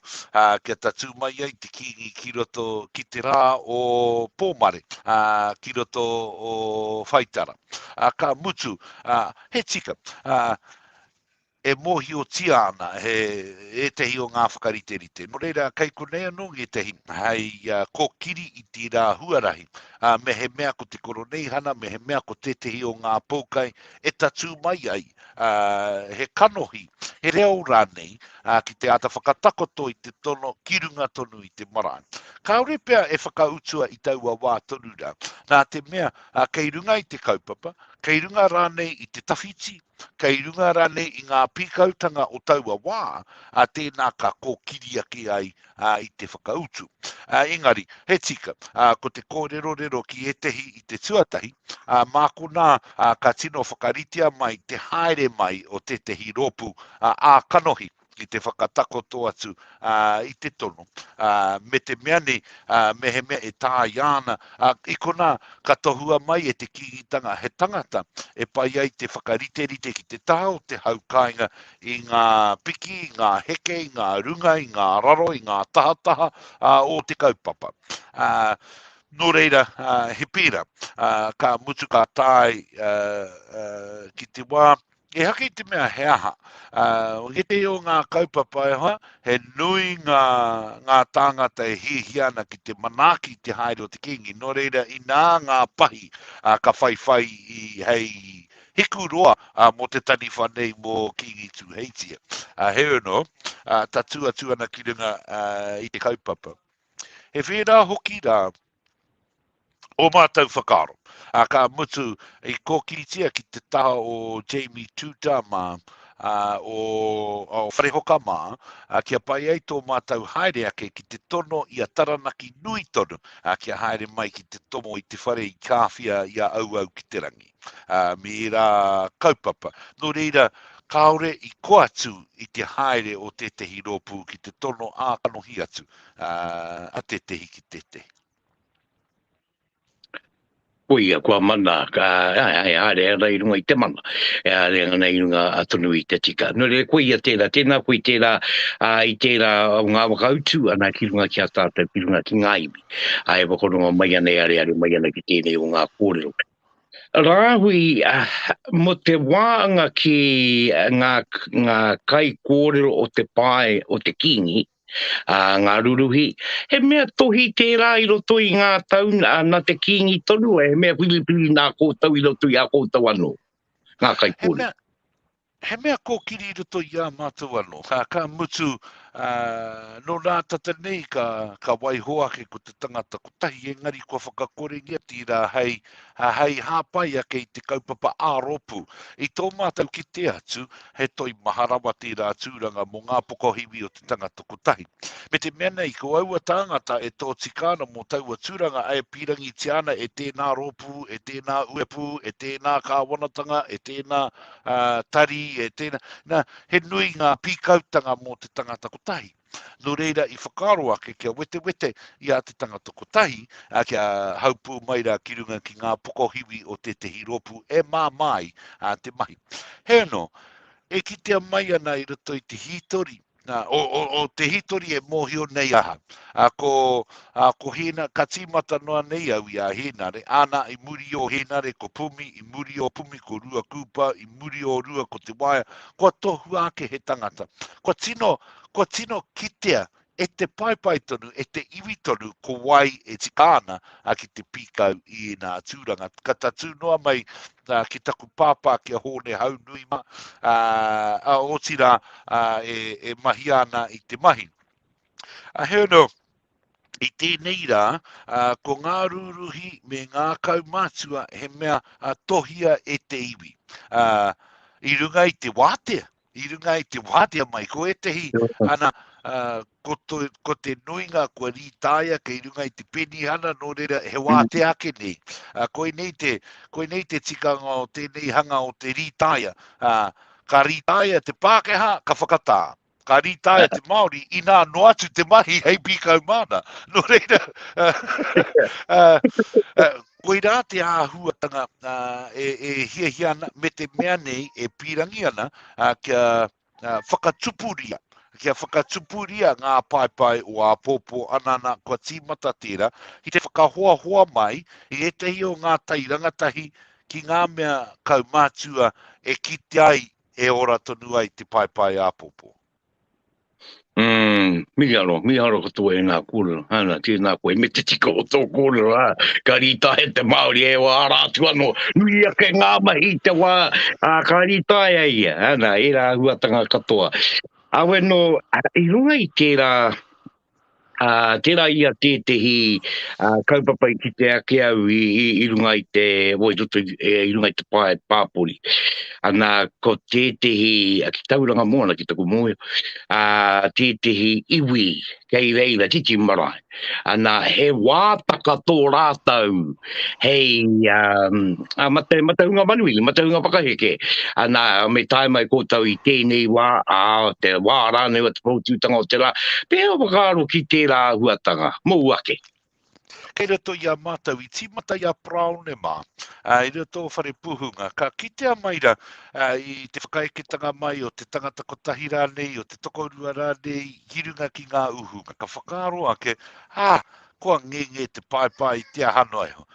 kia tatū mai ai te Kīngi ki roto ki te rā o Pōmare, ki roto o Whaitara. Ka mutu, he tika, e mōhiotia ana he ētehi o ngā whakariterite. Nō reira, kei konei anō ngētehi hei kōkiri i tērā huarahi. Mehemea ko te Koroneihana, mehemea ko tētehi o ngā poukai e tatū mai ai he kanohi, he reo rānei, ki te āta whakatakoto i te tono ki runga tonu i te marae. Kāore pea e whakautua i taua wā tonu rā, nā te mea kei runga i te kaupapa, kei runga rānei i te tawhiti, kei runga rānei i ngā pīkautanga o taua wā, tēnā ka kōkiri ake ai ā, i te whakautu. Ā, engari, he tika, ā, ko te kōrerorero ki ētehi i te tuatahi, ā, mā konā, ā, ka tino whakaritea mai te haere mai o tētehi rōpū, ā, ā-kanohi i te whakatakoto atu, ā, i te tono, ā, me te mea nei, ā, mehemea e tāia ana, ā, i konā, ka tohua mai e te Kīngitanga he tangata e pai ai te whakariterite ki te taha o te hau kāinga i ngā piki, i ngā heke, i ngā runga, i ngā raro, i ngā tahataha ā, o te kaupapa. Ā, nō reira, ā, he pērā, ā, ka mutu ka tae ā, ā, ki te wā, e haka i te mea he aha. Ā, ētehi o ngā kaupapa e hoa, he nui ngā, ngā tāngata e hiahia ana ki te manaaki i te haere o te Kīngi, nō reira, inā ngā pahi ā, ka whaiwhai i, hei, Hiku roa mo te taniwha nei mo Kingi Tuheitia. Heoi ano, tatu atu ana ki runga i te kaupapa. He whera hoki ra o matou whakaaro. Ka mutu i kokitia ki te taha o Jamie Tuta ma o Wharehoka ma, kia pai ai to matou haere ake ki te tono i a Taranaki nui tonu kia haere mai ki te tomo i te whare i Kawhia i a Auau ki te rangi. ā, me ērā kaupapa. Nō reira, kāore i koa atu i te haere o tētehi rōpū ki te tono ā-kanohi atu a tētehi ki tētehi. Koia, kua mana, ka, e haere ana i runga i te mana, e haere ana i runga tonu i te tika. Nō reira, koia tērā, tēnā koe i tērā, a, i tērā o ngā whakautu, ana ki runga ki a tātou, ki runga ki ngā iwi. A e whakarongo mai ana, e areare mai ana ki tēnei o ngā kōrero. Rāhui, mō te waanga ki ngā kaikōrero o te pae o te Kīngi, ngā ruruhi, he mea tohi tērā i roto i ngā tau nā te Kīngi tonu, he mea whiriwhiri nā koutou i roto i a koutou anō, ngā kaikōrero. He mea kōkiri i roto i ā mātou anō. Ka mutu, nō nā tata nei ka waiho ake ko te tangata kotahi, engari kua whakakorengia tērā hei hāpai ake i te kaupapa ā-rōpū. I tō mātou kite atu, he toimaha rawa tērā tūranga mō ngā pokohiwi o te tangata kotahi. Me te mea nei, ko aua tāngata e tōtika ana mō taua tūranga e pīrangitia ana e tēnā rōpū, e tēnā uepū, e tēnā kāwanatanga, e tēnā. uh, tari, e tēnā. Nā, he nui ngā pīkautanga mō te tangata kotahi. Nō reira i whakaaro ake kia wetewete i a te tangata kotahi a kia haupū mai rā ki runga ki ngā pokohiwi o tētehi rōpū e māmāi a te mahi. He anō, e kitea mai ana i roto i te hītori Nā, o, o, o te hitori e mōhio nei aha. A, ko, a, ko Hina, ka tīmata noa nei au i a Hēnare, āna i muri o Hēnare ko Pumi, i muri o Pumi ko Rua Kūpa, i muri o Rua ko Te Waea, kua tohua ake he tangata. Kua tino, kua tino kitea e te paepae tonu, e te iwi tonu, ko wai e tika ana a ki te pīkau i ēnā tūranga. Ka tatū noa mai ki taku pāpā ki a Hōne Haunuima, ā, otirā, ā, e, e mahia ana i te mahi. Ā, heoi anō, i tēnei rā, ā, ko ngā rūruhi me ngā kaumātua he mea, ā, tohia e te iwi. Ā, i runga i te wātea, i runga i te wātea mai, ko ētehi ana, ko, to, ko te nuinga kua rītāia kei runga i te penihana, nō reira he mm. wātea ake nei. Uh, koe, nei te, koe nei te tikanga o tēnei hanga o te rītāia. Uh, ka rītāia te Pākehā, ka whakatā. Ka rītāia te Māori, inā no atu te mahi hei pīkau māna. Nō reira, uh, uh, uh, Koirā te āhuatanga e hiahia ana me te mea nei e pīrangi ana kia whakatupuria, kia whakatupuria ngā paepae o āpōpō ana nā kua tīmata tērā ki te whakahoahoa mai i ētahi o ngā tai rangatahi ki ngā mea kaumātua e kitea ai e ora tonu ai te paepae āpōpō. Mm, mihi aro, mihi aro katoa e ngā kōrero. Hana, tēnā koe, me te tika o tō kōrero, ha. Ka rīta he te Māori, e wā, ara atu anō, nui ake ngā mahi te wā, a, ka rīta e ai ia. Hana, ērā huatanga katoa. Awe nō, i runga i tērā, Ā, tērā ia tētehi kaupapa i kite ake au i runga i te, o i roto i runga i te pae pāpori. Ana, ko tētehi, ki tau ranga moana ki taku mōhio, ā, tētehi iwi kei reira, titi marae. Ana, he wātaka tō rātou. hei a mate mataunga manuhiri, mataunga whakaheke. Ana, me tae mai koutou i tēnei wā, ā, te wā rānei o te poutūtanga o te rā, pēhea o whakaaro ki tērā āhuatanga, mōu ake? Kei roto i a mātou, i tīmata i a Parāone mā, i roto tō whare pūhunga, ka kitea mai ra i te whakaeketanga mai o te tangata kotahi rānei, o te tokorua rānei, ki runga ki ngā ūhunga, ka whakaaro ake, ā, Kua ngenge te paepae i te aha noa iho.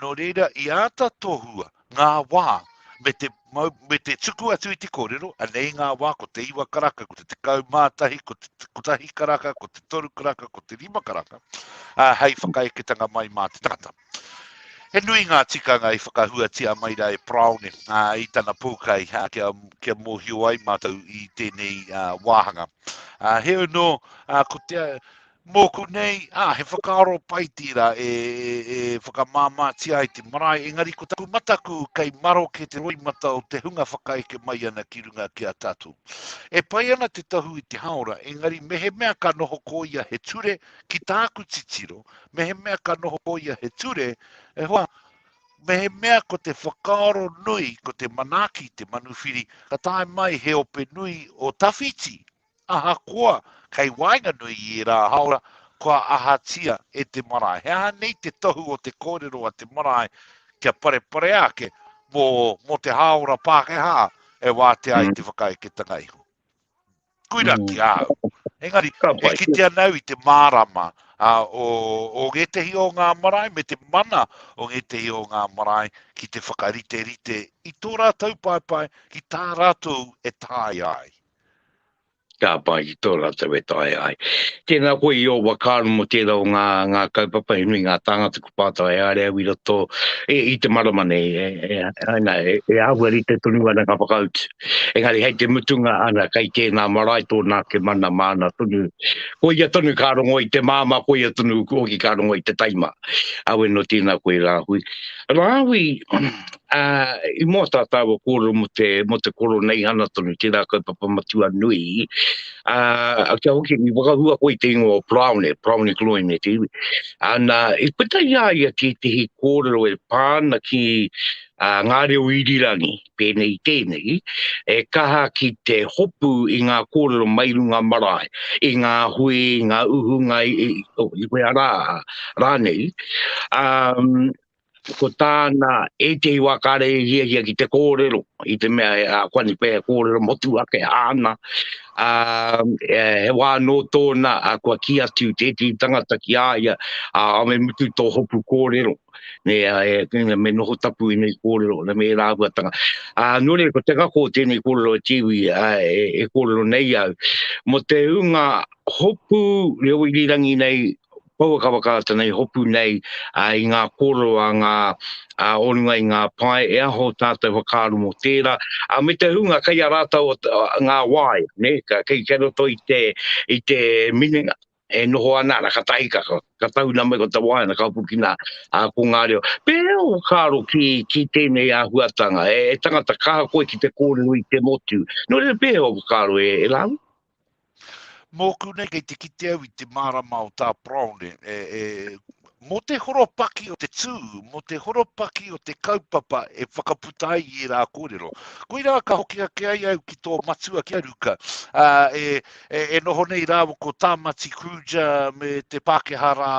Nō reira, i āta tohua ngā wā me te, me te tuku atu i te kōrero, anei ngā wā, ko te iwa karaka, ko te tekau mātahi, ko te kotahi karaka, ko te toru karaka, ko te rima karaka, a, hei whakaeketanga mai mā te tangata. He nui ngā tikanga i whakahuatia mai rā e Praone a, i tana pōkai a, kia, kia mōhio ai mātou i tēnei a, wāhanga. A, he ono, a, ko te, Mōku nei, ā, he whakaaro pai tērā e whakamāmātia ai te marae, engari ko taku mataku kei maroke te roimata o te hunga whakaeke mai ana ki runga ki a tātou. E pai ana te tohu i te hāora, engari mehemea ka noho ko ia he ture, ki tāku titiro, mehemea ka noho ko ia he ture, e hoa, mehemea ko te whakaaro nui, ko te manaaki te manuwhiri, ka tae mai he ope nui o tawhiti, Ahakoa kei waenganui i ērā hāora, kua ahatia e te marae? He aha nei te tohu o te kōrero a te marae kia pareparea ake mō te hāora Pākehā e wātea ai te whakaeketanga iho? Koirā ki ahau. Engari, e kitea nau i te mārama o ngētehi o ngā marae me te mana o ngētehi o ngā marae ki te whakariterite i tō rātou paepae ki tā rātou e taea ai. Ka pai ki tō rātou e taea ai. Tēnā koe i ō whakaaro mō tērā o ngā, ngā kaupapa, he nui ngā tāngata kua pātai e haere au i roto, e, i te marama nei, e, e, ana, e, e āhua rite tonu ana ngā whakautu. Engari hei te mutunga, ana, kei tēnā marae tōna ake mana māna tonu. Koia tonu ka rongo i te māmā, koia tonu hoki ka rongo i te taima. Aue nō tēnā koe rāhui. Rāhui, Ā, i mua tā tāua kōrero mō te, mō te Koroneihana tonu, tērā kaupapa matua nui, ā, kia hoki, i whakahua koe i te ingoa o Proune, Proune Gloyne te iwi. Ā, nā, i puta i a ia tētehi kōrero e pā ana ki, ā, ngā reo irirangi, pēnei i tēnei, e kaha ki te hopu i ngā kōrero mai runga marae, i ngā hui, i ngā uhunga, i, oh, i whea rā, rānei. Ā, Ko tāna ētehi wā kāre i hiahia ki te kōrero, i te mea a Kuani Pēhea kōrero motu ake āna, ā, he wā nō tōna kua kī atu tētehi tangata ki a ia, ā, me mutu tō hopu kōrero, nē, ā, me noho tapu ēnei kōrero me ērā āhuatanga. Ā, nō reira, ko te ngako o tēnei kōrero e Tiwi, ā, e kōrero nei au, mō te hunga hopu reo irirangi nei Pouakawakaata nei hopu nei i ngā kōrero a ngā o runga i ngā pae, e aho tātou whakaaro mō tērā, me te hunga kei a rātou ngā wai, kei roto i te minenga e noho ana, ana ka tahi ka tahuna mai ko te wai, ana ka hopukina ko ngā reo. Pēhea ō whakaaro ki tēnei āhuatanga, e tangata kaha koe ki te kōrero i te motu, nō reira pēhea ō whakaaro e Rāhui? Mōku nei kei te kite au i te mārama o tā Browne, e, e, mō te horopaki o te tū, mō te horopaki o te kaupapa e whakaputa ai i ērā kōrero. Koirā ka hoki ake ai au ki tō matua ki a Ruka, a, e, e, e noho nei rāwa ko Tāmati Kruja me te Pākehā rā,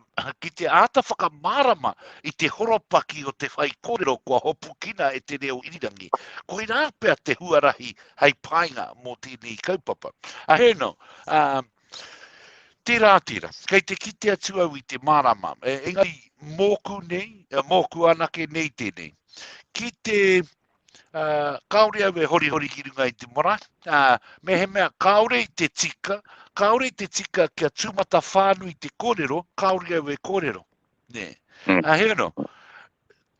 a, ki te āta whakamārama i te horopaki o te whai kōrero kua hopukina e te reo irirangi. Koirā pea te huarahi hei painga mō tēnei kaupapa. A hēno, um, tērā, tērā, kei te kite atu au i te mārama, e, engari mōku nei, e, mōku anake nei tēnei, ki te, uh, kāore au e hori hori ki runga i te mora, uh, me he mea kāore i te tika, kāore i te tika kia tūmata whānui te kōrero, kāore au e kōrero. Nē. Mm. A he ano,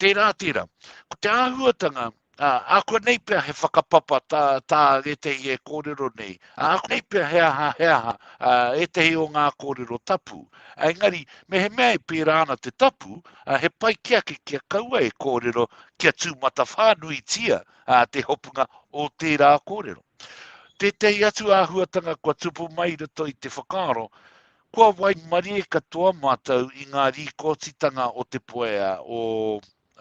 tērā, tērā. Ko te āhuatanga, a, a kua nei pia he whakapapa tā, tā ētehi e kōrero nei, a, a kua nei pia he aha, he aha, a, ētehi o ngā kōrero tapu. A, engari, me he mea e pērā ana te tapu, a, he pai ki ake kia kaua e kōrero kia tū matawhānui tia a, te hopunga o tērā kōrero. Tētehi atu āhuatanga kua tupu mai rato i te whakaaro, Kua waimarie katoa mātou i ngā rīkōtitanga o te poea, o,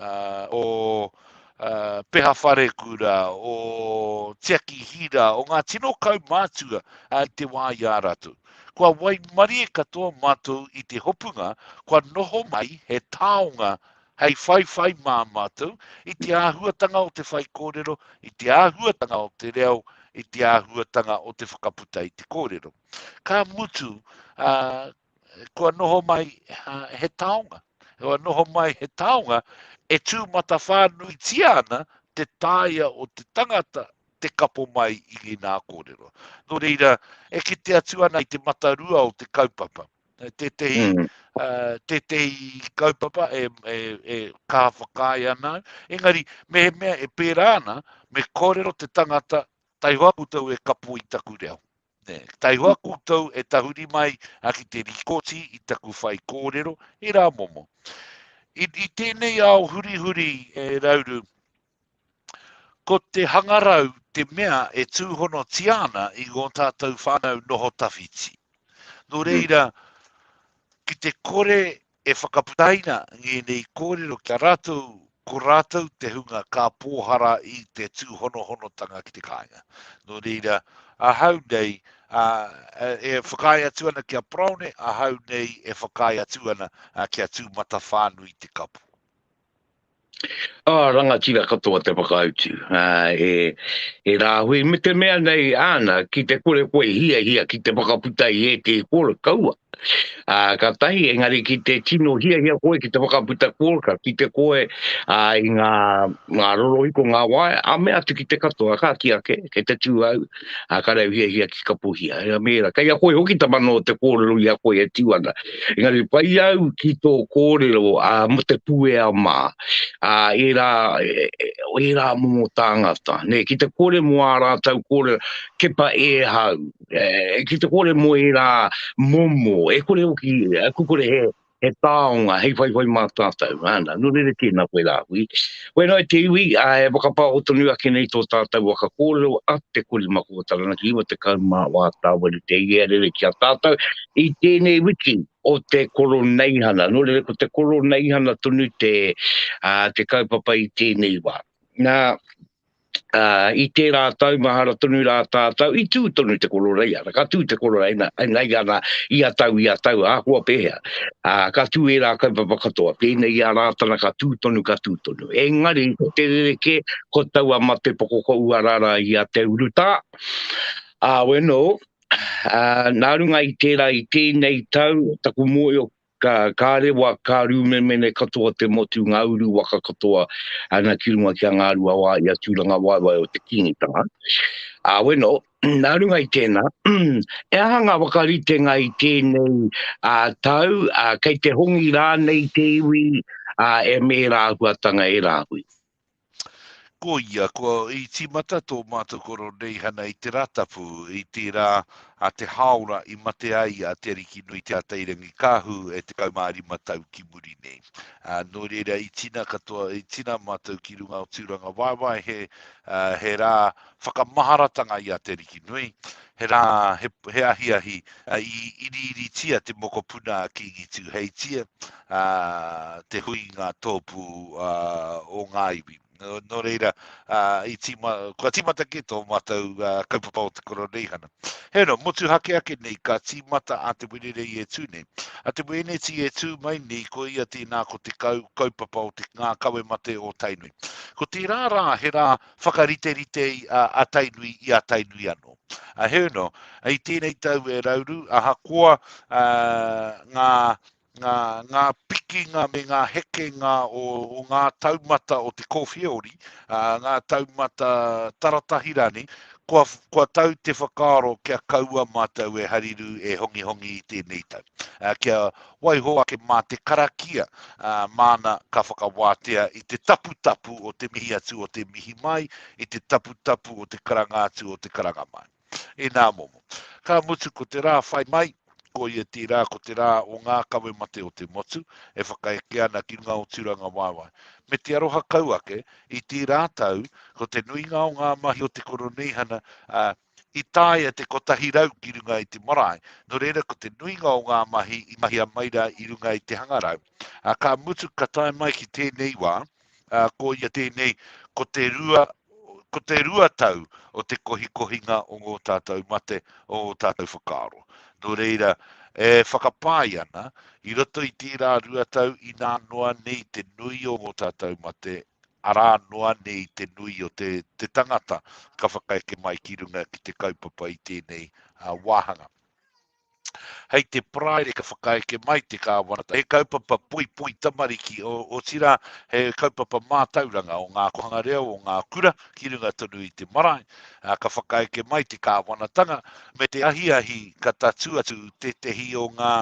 uh, o uh, Peha Wharekura, o Tiaki Hira, o ngā tino kaumātua uh, te wā i a rātou. Kua waimarie katoa mātou i te hopunga, kua noho mai he taonga hei whaiwhai mā mātou i te āhuatanga o te whaikōrero, i te āhuatanga o te reo, i te āhuatanga o te whakaputa i te kōrero. Ka mutu, ā, kua noho mai he taonga. Kua noho mai he taonga e tū matawhānuitia ana te taea o te tangata te kapo mai i ngīnā kōrero. Nō reira, e kite atu ana i te matarua o te kaupapa. Tētehi, mm. uh, tētehi kaupapa e, e, e kā whakāi ana. Engari, me he mea e pērā ana, me kōrero te tangata, tai hoa koutou e kapo i taku reo. Taihua koutou e tahuri mai ki te rikoti i taku whaikōrero, he rā momo. I tēnei ao hurihuri e Rauru, ko te hangarau te mea e tūhonotia ana i ngō tātou whānau noho tawhiti. Nō reira, ki te kore E whakaputaina ngēnei kōrero ki a rātou ko rātou te hunga ka pōhara i te tūhonohonotanga ki te kāinga. Nō reira, ahau nei, ā, e whakaae atu ana ki a Parone, ahau nei e whakaae atu ana ki a Tūmatawhānui Te Kapo. Ā, rangatira katoa te whakautu, ā, e, e Rāhui, me te mea nei āna ki te kore koe hiahia ki te whakaputa i ētehi kōreka kaua. Ā, ka tahi, engari ki te tino hiahia koe ki te whakaputa kōreka, kite koe, ā, i ngā, ngā rorohiko, ngā waea, ā, mea atu ki te katoa, ka kī ake, kei te tū au, a ka rau hia hia ki ka puhia. Hea mēra, kei a koe hoki ta mano o te kōrero i a koe e tū ana. Engari, pai au ki tō kōrero a mo te puea mā, a e rā, e rā momo tāngata. Nē, ki te kore mo ā rātau kōrero, kepa e hau, e, ki te kore mo e rā momo, e kore hoki, e kukore he, He taonga, hei whaiwhai mā tātou, āna, nō reira tēnā koe rāhui. Koe noa te iwi, ā, e whakapāho tonu ake nei tō tātou waka kōrero a Te Kori Maka o Taranaki, 94 Tāwera Te Iea Rere ki a tātou, i tēnei wiki o te Koroneihana. Nō reira, ko te Koroneihana tonu te, ā, te kaupapa i tēnei wā. Nā, ā, i tērā tau mahara tonu rā tātau, i tū tonu te kororei, arā, ka tū te kororei, nā, nā ia nā, ia tau, ia tau, ahakoa pēhea, ā, ka tū ērā kaupapa katoa, pēnei i a Rātana ka tū tonu, ka tū tonu. Engari, ko te rerekē, ko taua matepoko ko Uarara i a Te Urutā, ā, weno, ā, nā runga i tērā, i tēnei tau, taku mōhio, Ka, ka rewa, ka rūmemene katoa te motu, ngā uru waka katoa, ana ki runga ki a Ngāruawā i a Tūrangawaewae o te Kīngitanga. Ā, weno, nā runga i tēnā, he aha ngā whakaritenga i tēnei ā, tau, ā, kei te hongi rānei te iwi, ā, e mēra āhuatanga e rāhui? Koia, kua i tīmata tō mātou Koroneihana i te Ratapu, i tērā a Te Hāora i mate ai a Te Arikinui Te Atairangikaahu e 15 tau ki muri nei. Ā, nō reira i tina katoa, i tina mātou ki runga o Tūrangawaewae he, ā, he rā whakamaharatanga i a Te Rikinui, he rā, he, he ahiahi i iriiritia te mokopuna a Kīngi Tūheitia, a, te hui ngā tōpū a, o ngā iwi. Nō, nō reira, a, i tima, kua timata ki tō mātou a, kaupapa o te koroneihana. He no, motuhake ake nei, ka tīmata a te Wenerei e tū nei. A te Wēneti e tū mai nei, ko ia tēnā ko te kau, kaupapa o te ngā kawe mate o Tainui. Ko tērā rā, he rā, Whakariterite a Tainui i a Tainui anō. Heoi anō, i tēnei tau e Rauru, ahakoa ngā pikinga me ngā hekenga o ngā taumata o te kōwhiaori, ngā taumata taratahi rānei, kua tau te whakaaro kia kaua mātou e hariru, e hongihongi i tēnei tau. Kia Waiho ake mā te karakia, ā, māna ka whakawātea i te taputapu o te mihi atu o te mihi mai, i te taputapu o te karanga atu o te karanga mai. Inā momo. Ka mutu ko te rā whai mai, koia tērā ko te rā o ngā kawe mate o te motu, e whakaeke ana ki runga o Tūrangawaewae. Me te aroha kau ake, i tērā tau, ko te nuinga o ngā mahi o te Koroneihana, ā, I taea te kotahi rau ki runga i te marae, nō reira ko te nuinga o ngā mahi i mahia mai rā i runga i te hangarau. Ā, ka mutu ka tae mai ki tēnei wā, ā, ko ia tēnei, ko te rua, ko te rua tau o te kohikohinga o ngō tātou mate, o ō tātou whakaaro. Nō reira, e whakapae ana, i roto i tērā rua tau inā noa nei te nui o ngō tātou mate, arā noa nei te nui o te te tangata ka whakaeke mai ki runga ki te kaupapa i tēnei wāhanga. Hei te Paraire ka whakaeke mai te Kāwanata, he kaupapa poipoi tamariki, otirā he kaupapa mātauranga o ngā kōhanga reo, o ngā kura, ki runga tonu i te marae, ka whakaeke mai te Kāwanatanga, me te ahiahi ka tatū atu tētehi o ngā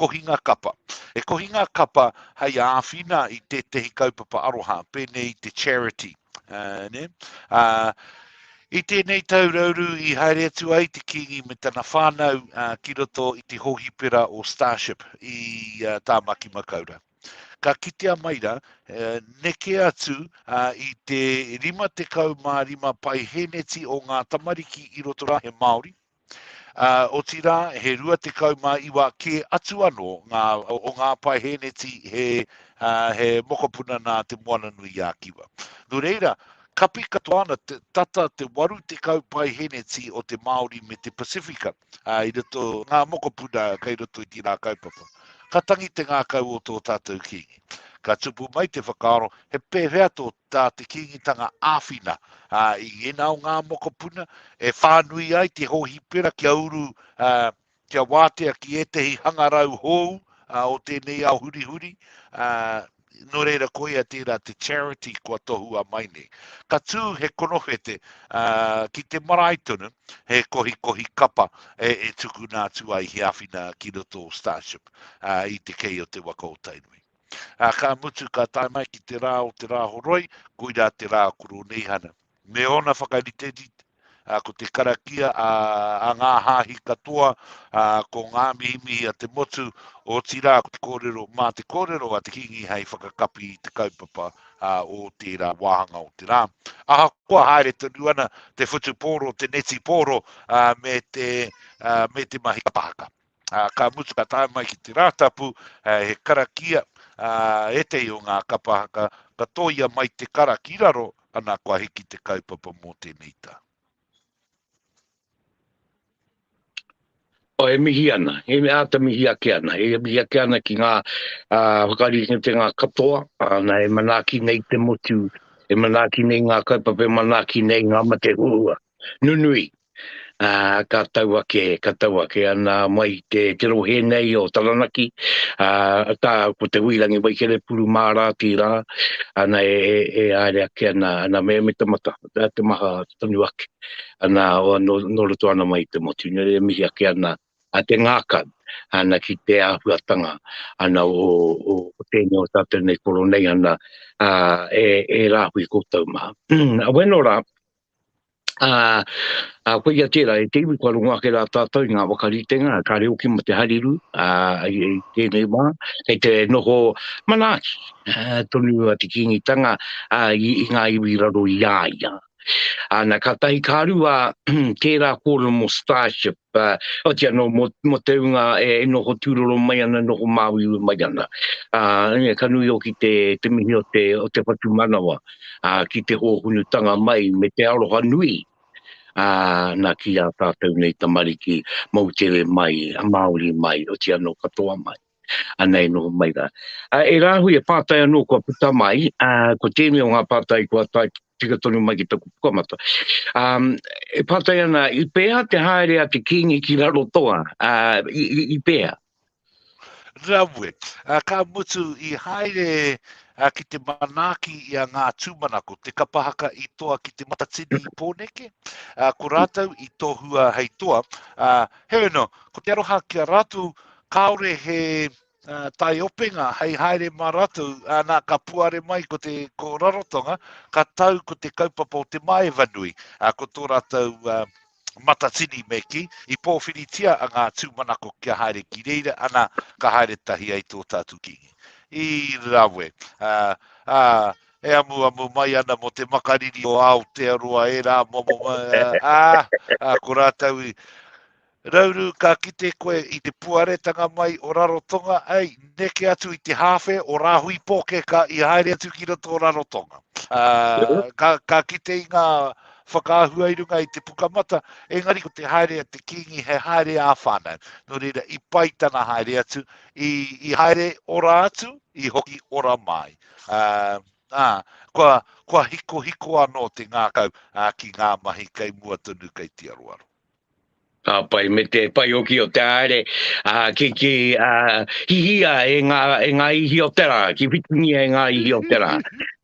kohinga kapa. He kohinga kapa hei āwhina i tētehi kaupapa aroha, pēnei i te charity. I tēnei tau rauru i haere atu ai te kīngi me tana whānau ki roto i te hōhipera o Starship i Tāmaki Makaurau. Ka kitea mai ra, neke atu i te 55 pae hēneti o ngā tamariki i roto ra he Māori, otirā he 29 kē atu anō ngā, o ngā pae hēneti he, he mokopuna nā Te Moana-nui-ā-Kiwa. Nō reira, kapi katoa ana tata te 80 pae hēneti o te Māori me te Pasifika. ā, i roto ngā mokopuna kei roto i tīnā kaupapa. Ka tangi te ngākau o tō tātou kīngi. Ka tupu mai te whakaaro he pēwhea tō tā te kīngitanga āwhina, ā, i ēnā o ngā mokopuna e whānui ai te hōhipera kia uru, ā, kia wātea ki ētehi hangarau hōu, ā, o tēnei ao hurihuri, ā, nō reira koia tērā te charity kua tohua mai nei. Ka tū he konowhete uh, ki te marae tonu, he kohikohi kapa e, e tuku nā atu ai he awhina ki roto o Starship uh, i te kei o te waka o Tainui. Uh, ka mutu ka tae mai ki te rā o te rā horoi, koirā te rā kuro neihana. Me ōna whakariterite, ko te karakia a ngā hāhi katoa, ko ngā mihimihi a te motu, otirā ko te kōrero, mā te kōrero a te Kīngi hei whakakapi i te kaupapa o tērā wāhanga o te rā. Ahakoa haere tonu ana te whutupōro, te netipōro, me te mahi kapa haka. Ā, ka mutu ka tae mai ki te Rātapu, he karakia, ā, ētehi o ngā kapa haka, ka tōia mai te kara ki raro, ana kua hiki te kaupapa mō tēnei tau. E mihi ana, e āta mihi ake ana, e mihi ake ana ki ngā whakaritenga katoa, ana e manaaki nei te motu, e manaaki nei ngā kaupapa, e manaaki nei ngā mate huhua. nunui, ā, ka tau ake, ka tau ake ana mai i te, te rohe nei o Taranaki, ā, ka, ko Te Huirangi Waikerepuru mārā tīrā, ana e, e, e aere ake ana, ana me, me te mata, te maha tonu ake, ana, nō, nō roto ana mai i te motu, nō reira e mihi ake ana a te ngākau, ana ki te āhuatanga, ana o, o, o tēnei o tātou nei koro nei, ana, ā, e, e rāhui koutou mā. Weno rā, Ā, ā, koia tērā, e te iwi kua rongo ake rā tātou i ngā waka ritenga, kāre hoki mō te hariru, ā, i, i tēnei wā, kei te noho manaaki tonu a te Kīngitanga ā, i, i ngā iwi raro i a ia. Ā, na, kātahi ka rua tērā kōrero mō Starship, Ā, oati anō mō, mō te ūnga e noho tūroro mai ana, e noho māuiui mai ana. Ā, ē, ka nui hoki te, te mihi o te, o te whatumanawa, ā, ki te hōhunutanga mai me te aroha nui, ā, nā, ki ā tātou nei tamariki, moutere mai, Māori mai, oati anō katoa mai. anei noho mai rā. Ā, e rāhui e pātai anō kua puta mai, ā, ko tēnei o ngā pātai kua tae tika tonu mai ki taku pukamata. Ā, e pātai ana, i pēhā te haere a te Kīngi ki Rarotoa? Ā, i, i, i pēhā? Rawe, ā, ka mutu i haere ā, ki te manaaki i a Ngā Tūmanako, te kapa haka i toa ki Te Matatini i Pōneke, ā, ko rātou i tohua hei toa, ā, heoi anō, ko te aroha ki a rātou kāore he taiopenga hei haere mā ratou, ana ka puare mai ko te ko Rarotonga, ka tau ko te kaupapa o te Maevanui, ko tō ratou matatini me kī, i pōwhiritia a ngā tūmanako kia haere ki reira, ana ka haere tahi ai tō tātou Kīngi. I rawe, ā, e amuamu mai ana mō te makariri o Aotearoa e rā momo, ā, ko rātou i, Rauru ka kite koe i te puaretanga mai o Rarotonga ei neke atu i te hawhe o Rahui Pokeka i haere atu ki roto o Rarotonga. Uh, ka, ka kite i ngā whakaahua i runga i te pukamata, engari ko te haere a te kingi he haere a whānau. Nō reira, i pai tana haere atu, i, i haere ora atu, i hoki ora mai. Uh, ah, kua, kua hiko hiko anō te ngākau uh, ki ngā mahi kei mua tonu kei te aroaro. Ka pai me te paioki o te aere, a, ki, ki a, hihia e ngā, e ngā ihi o te rā, ki whitingia e ngā ihi o te rā.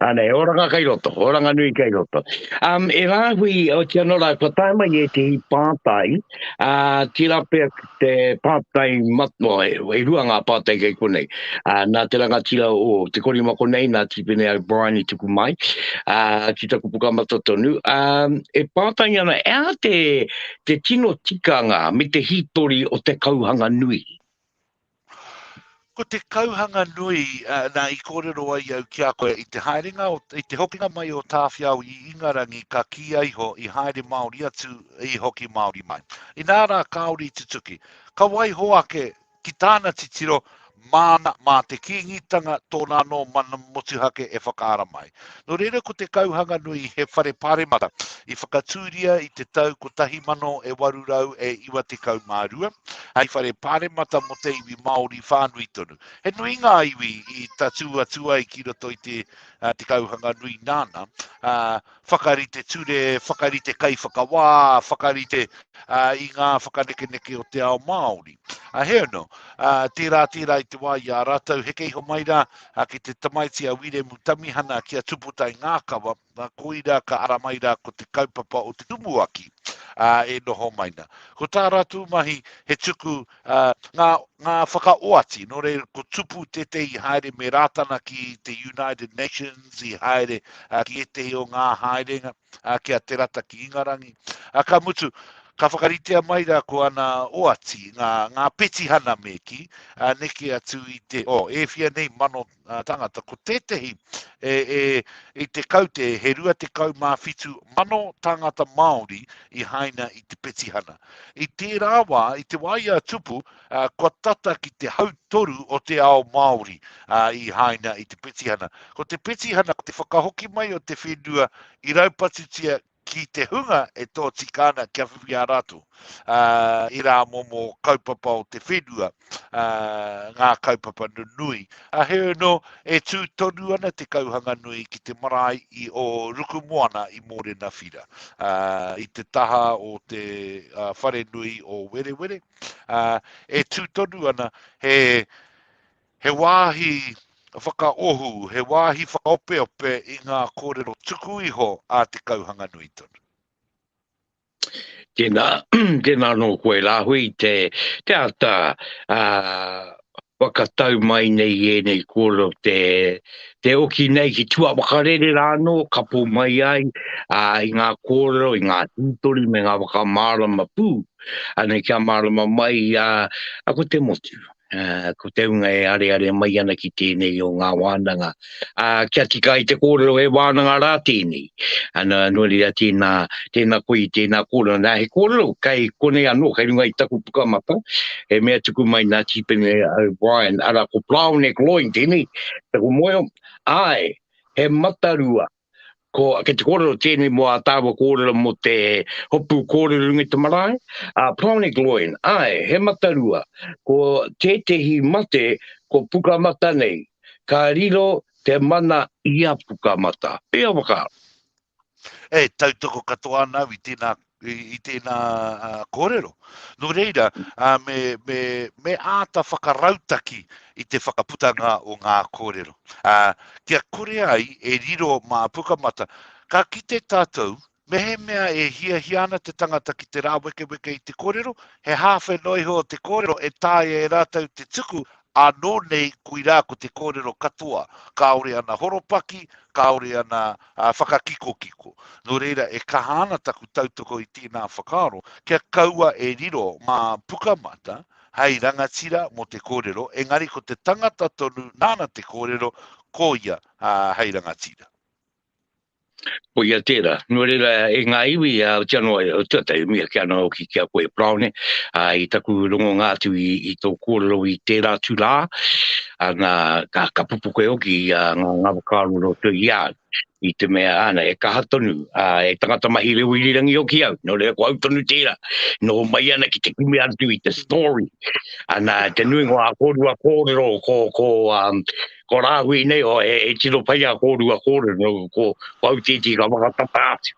Ane, oranga kai roto, oranga nui kai roto. Um, e rāhui o te anora, kua tae mai e te hi pātai, a, tira pia, Te pātai matua, e rua ngā pātai kei konei. Nā te rangatira o Te Korima konei, nā Tīpene O'Brien i tuku mai ki taku pukamata tonu. E pātai ana, e aha te tino tikanga me te hītori o te kauhanga nui? Ko te kauhanga nui nā i kōrero ai au ki a koe, i te haerenga, i te hokinga mai o Tāwhiao i Ingarangi ka kīia iho i haere Māori atu, i hoki Māori mai. Inā rā kāore i tutuki. Ka waiho ake ki tāna titiro, māna, mā te Kīngitanga tōna anō mana motuhake e whakaara mai. Nō reira ko Te Kauhanganui he whare pāremata i whakatūria i te tau 1892 hei whare pāremata mō te iwi Māori whānui tonu. He nui ngā iwi i tatū atu ai ki roto i te, uh, te Kauhanganui nāna, uh, whakarite ture, whakarite kaiwhakawā, whakarite uh, i ngā whakanekeneke o te ao Māori. Uh, he ono, uh, tērā tērā i te wā i a rātou heke iho mai rā, A ki te tamaiti a Wiremu Tamihana ki a Tuputai Ngākawa, na koira ka ara mai ra ko te kaupapa o te Tumuaki, a, e noho mai na. Ko tā ratou mahi he tuku, a, nga, nga whakaoati, no reira ko tupu tētehi i haere me Rātana ki te United Nations i haere, a, ki ētehi o ngā haerenga, a, ki a Te Rata ki Ingarangi. A, ka mutu, ka whakaritea mai ra ko ana oati, nga, nga petihana me ki, a, neke atu i te, o, oh, e fia nei mano a, tangata, ko tētehi, e, e, i te kaute, he rua te kau mā fitu mano tangata Māori i haina i te petihana. I tērā wā, i te wā i a tupu, Kua tata ki te hautoru o te ao Māori i haina i te petihana. Ko te petihana ko te whakahoki mai o te whenua i raupatutia ki te hunga e tōtika ana kia whiwhi ā rātou i rā momo kaupapa o te whenua, ngā kaupapa nunui. He ono e tū tonu ana te kauhanga nui ki te marae i o Rukumoana i Mōrenawhira, i te taha o te wharenui o Werewere. e tū tonu ana, he, he wāhi whakaohu, he wāhi whakaopeope i ngā kōrero tuku iho a te kauhanga nui tonu. Tēnā, tēnā nō koe rāhui te, te ata uh, Whakatau mai nei ēnei kōrero te oki nei ki tua whakarere rā anō, kapo mai ai i ngā kōrero, i ngā hītori me ngā whakamārama pū, anei kia mārama mai ko te motu, ko te hunga e areare mai ana ki tēnei o ngā wānanga uh, kia tika i te kōrero e wānanga rā tēnei. Ana, nō reira tēnā, tēnā koe, tēnā kōrero. Nā, he kōrero, kei konei anō, kei runga i taku pukamata, e mea tuku mai nā Tīpene O'Brien, ara ko Brown e Gloin tēnei, taku moe, ai, he matarua, Ko, kei te kōrero tēnei mō ā tāua kōrero mō te hopu kōrero runga i te marae, a Pronic Loin, āe, he matarua, ko tētehi mate ko Pukamata nei, ka riro te mana i a Pukamata. Pēhea wakaaro? E tautoko katoa ana au i tēnā i tēnā kōrero. Nō reira, me, me, me āta whakarautaki i te whakaputanga o ngā kōrero. A, kia kore ai e riro mā Pukamata, ka kite tātou, mehemea e hiahia ana te tangata ki te rāwekeweke i te kōrero, he hāwhe noa iho o te kōrero e taea e rātou te tuku Ānō nei koirā ko te kōrero katoa, kāore ana horopaki, kāore ana whakakikokiko. Nō reira e kaha ana taku tautoko i tēnā whakaaro, kia kaua e riro ngā pukamata hei rangatira mō te kōrero, engari ko te tangata tonu nāna te kōrero, ko ia hei rangatira. Ko ia tērā, nō reira e ngā iwi a Aoteanoa e tuatahi mia ki ana hoki ki a koe Browne, a, i taku rongonga atu i, i tō kōrero i tērā tū rā, ana, ka, ka pupu koe hoki i a ngā, ngā whakaaro roto i au, i te mea ana, e kaha tonu, a, e tangata mahi reo irirangi hoki au, nō reira ko au tonu tērā, noho mai ana ki te kimi atu i te story, ana, te nuinga o a kōrua kōrero ko, ko, um, ko Rāhui nei, o, e, e tino pai a kōrua kōrero, no, ko, ko Autiti ka whakatata atu.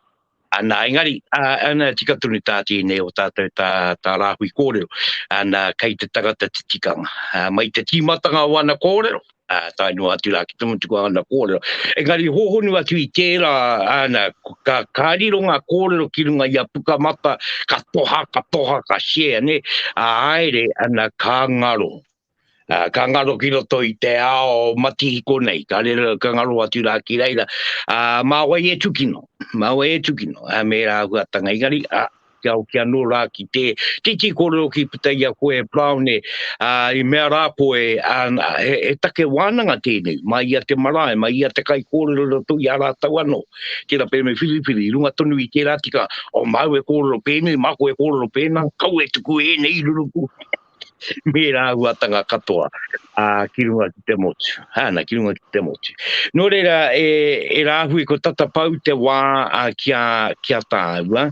Ana, engari, ana, tika tonu tā tēnei o tātou tā, tā Rāhui kōrero, ana, kei te tangata te tikanga. A, mai te tīmatanga o ana kōrero, a, tae noa atu rā ki te mutu ko ana kōrero. Engari, hōhonu atu i tērā, ana, ka, ka riro ngā kōrero ki runga i a Pukamata, ka toha, ka toha, ka share, ne, a, aere, ana, ka ngaro. Uh, ka ngaro ki roto i te ao matihiko nei, ka, rero, ka ngaro atu rā ki reira. Uh, mā wai e tukino, mā wai e tukino, uh, me rā huatanga ingari, uh, kia au kia nō rā ki te titi kōrero ki puta i a koe Brown e uh, i mea rā koe uh, he, he take wānanga tēnei mai ia te marae, mai ia te kai kōrero rato i a rātau anō ki ra pēnei whiriwhiri, runga tonu i tērā tika o oh, māu e kōrero pēnei, māko e kōrero pēnā kau e tuku ēnei ruruku me rāhuatanga katoa ā, ki runga ki te motu, hāna, ki runga ki te motu. Nō reira, e, e rāhui ko tata pau te wā ā, ki, a, ki a tāua,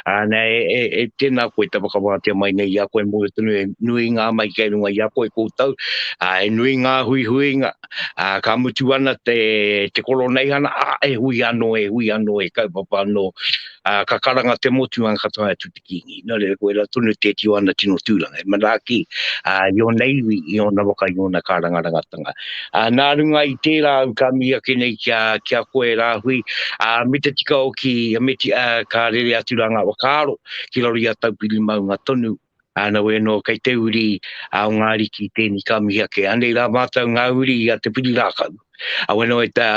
ā, nē, e, e, e tēnā koe te whakawātea mai nei i a koe mō tonu e nui ngā mai kei runga i a koe koutou, ā, e nui ngā huihuinga, ā, ka mutu ana te, te koroneihana, ā, e hui anō, e hui anō, e kaupapa anō, ā, ka karanga te motu ā, ka tae atu kīngi. Nō reira, koe rā tonu tēti o ana tino tūranga, e manaaki i ōna iwi, i ōna waka, i ōna kārangarangatanga. Nā runga i tērā au ka mihi ake nei ki a, ki a koe rāhui, me te tika hoki, me te, ka rere atu rā ngā whakaaro ki raro i a Taupiri maunga tonu, nā wai anō kei te uri o ngā ariki tēnei ka mihi ake. Anei rā mātou ngā uri a te piri rākau, a weno e te,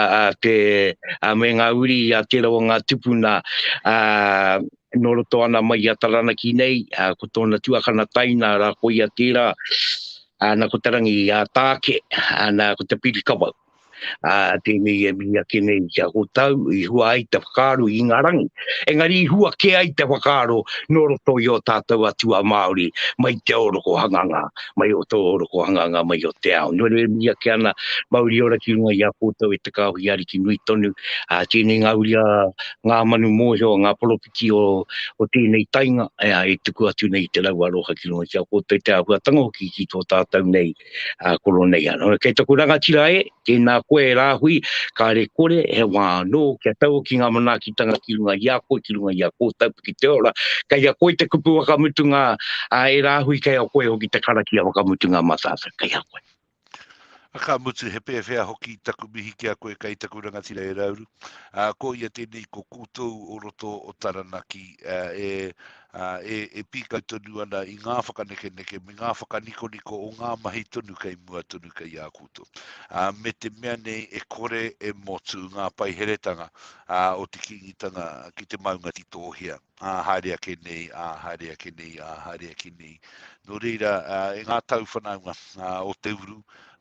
me ngā uri a tērā o ngā tupuna, E nō roto ana mai i a Taranaki nei, ko tōna tuakana taina rā koia tērā, nā ko Te Rangi Tāke, nā ko Te Pirikawau. Tēnei e mihi ake nei kia kōtau i hua ai te whakaaro i ngā rangi, engari i hua kē ai te whakaaro nō roto i ō tātou atua Māori mai te oroko hanganga, mai o tō oroko hanganga mai o te ao. Nō reira e mihi ake ana mauri ora ki runga i a kōtau e te Kāhui Ariki nui tonu, tēnei ngā uri a ngā manu mōhio, ngā poropiti o, o tēnei tainga, ea, e tuku atu nei te rau aroha ki runga ki a koutou, te āhuatanga hoki ki tō tātou nei a koro nei. Ano, kei taku rangatira e, tēnā koe e rāhui, kāre kore he wā anō kia tau ki ngā manaakitanga ki runga i a koe, ki runga i a koutou ki te ora. Kei a koe te kupu whakamutunga a e rāhui, kei a koe hoki te karakia whakamutunga mā tātou, kei a koe. Ka mutu, he pēwhea hoki taku mihi ki a koe kei taku rangatira e Rauru. Ko ia tēnei, ko koutou o roto o Taranaki e pīkau tonu ana i ngā whakanekeneke me ngā whakanikoniko o ngā mahi tonu kei mua tonu kei a koutou. Me te mea nei e kore e motu ngā paiheretanga o te Kīngitanga ki te maunga titōhea. ā, haere ake nei, ā, haere ake nei, ā, haere ake nei. Nō reira, ā, e ngā tau whanaunga ā, o te uru,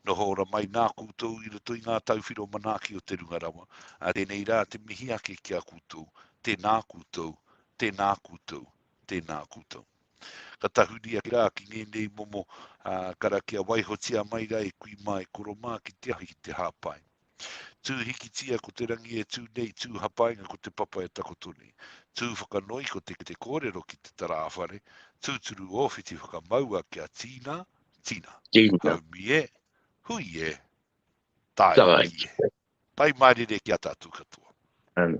noho ora mai nā koutou i roto i ngā tau whiro manaaki o te runga rawa. Ā, tēnei rā te mihi ake ki a koutou, tēnā koutou, tēnā koutou, tēnā koutou. Ka tahuri ake rā ki ngēnei momo ā, karakia waihotia mai rā e kui mā, e koro mā ki te ahi, ki te hāpai. Tū hikitia ko te rangi e tū nei, tū hapainga ko te papa e takoto nei. Tū whakanoi ko te te kōrero ki te tarāwhare, tūturu ōwhiti whakamaua kia tīna, tīna. Tīna. Haumi e, hui e, tāi. Tāi. Pai mārire ki a tātou katoa. Tāi.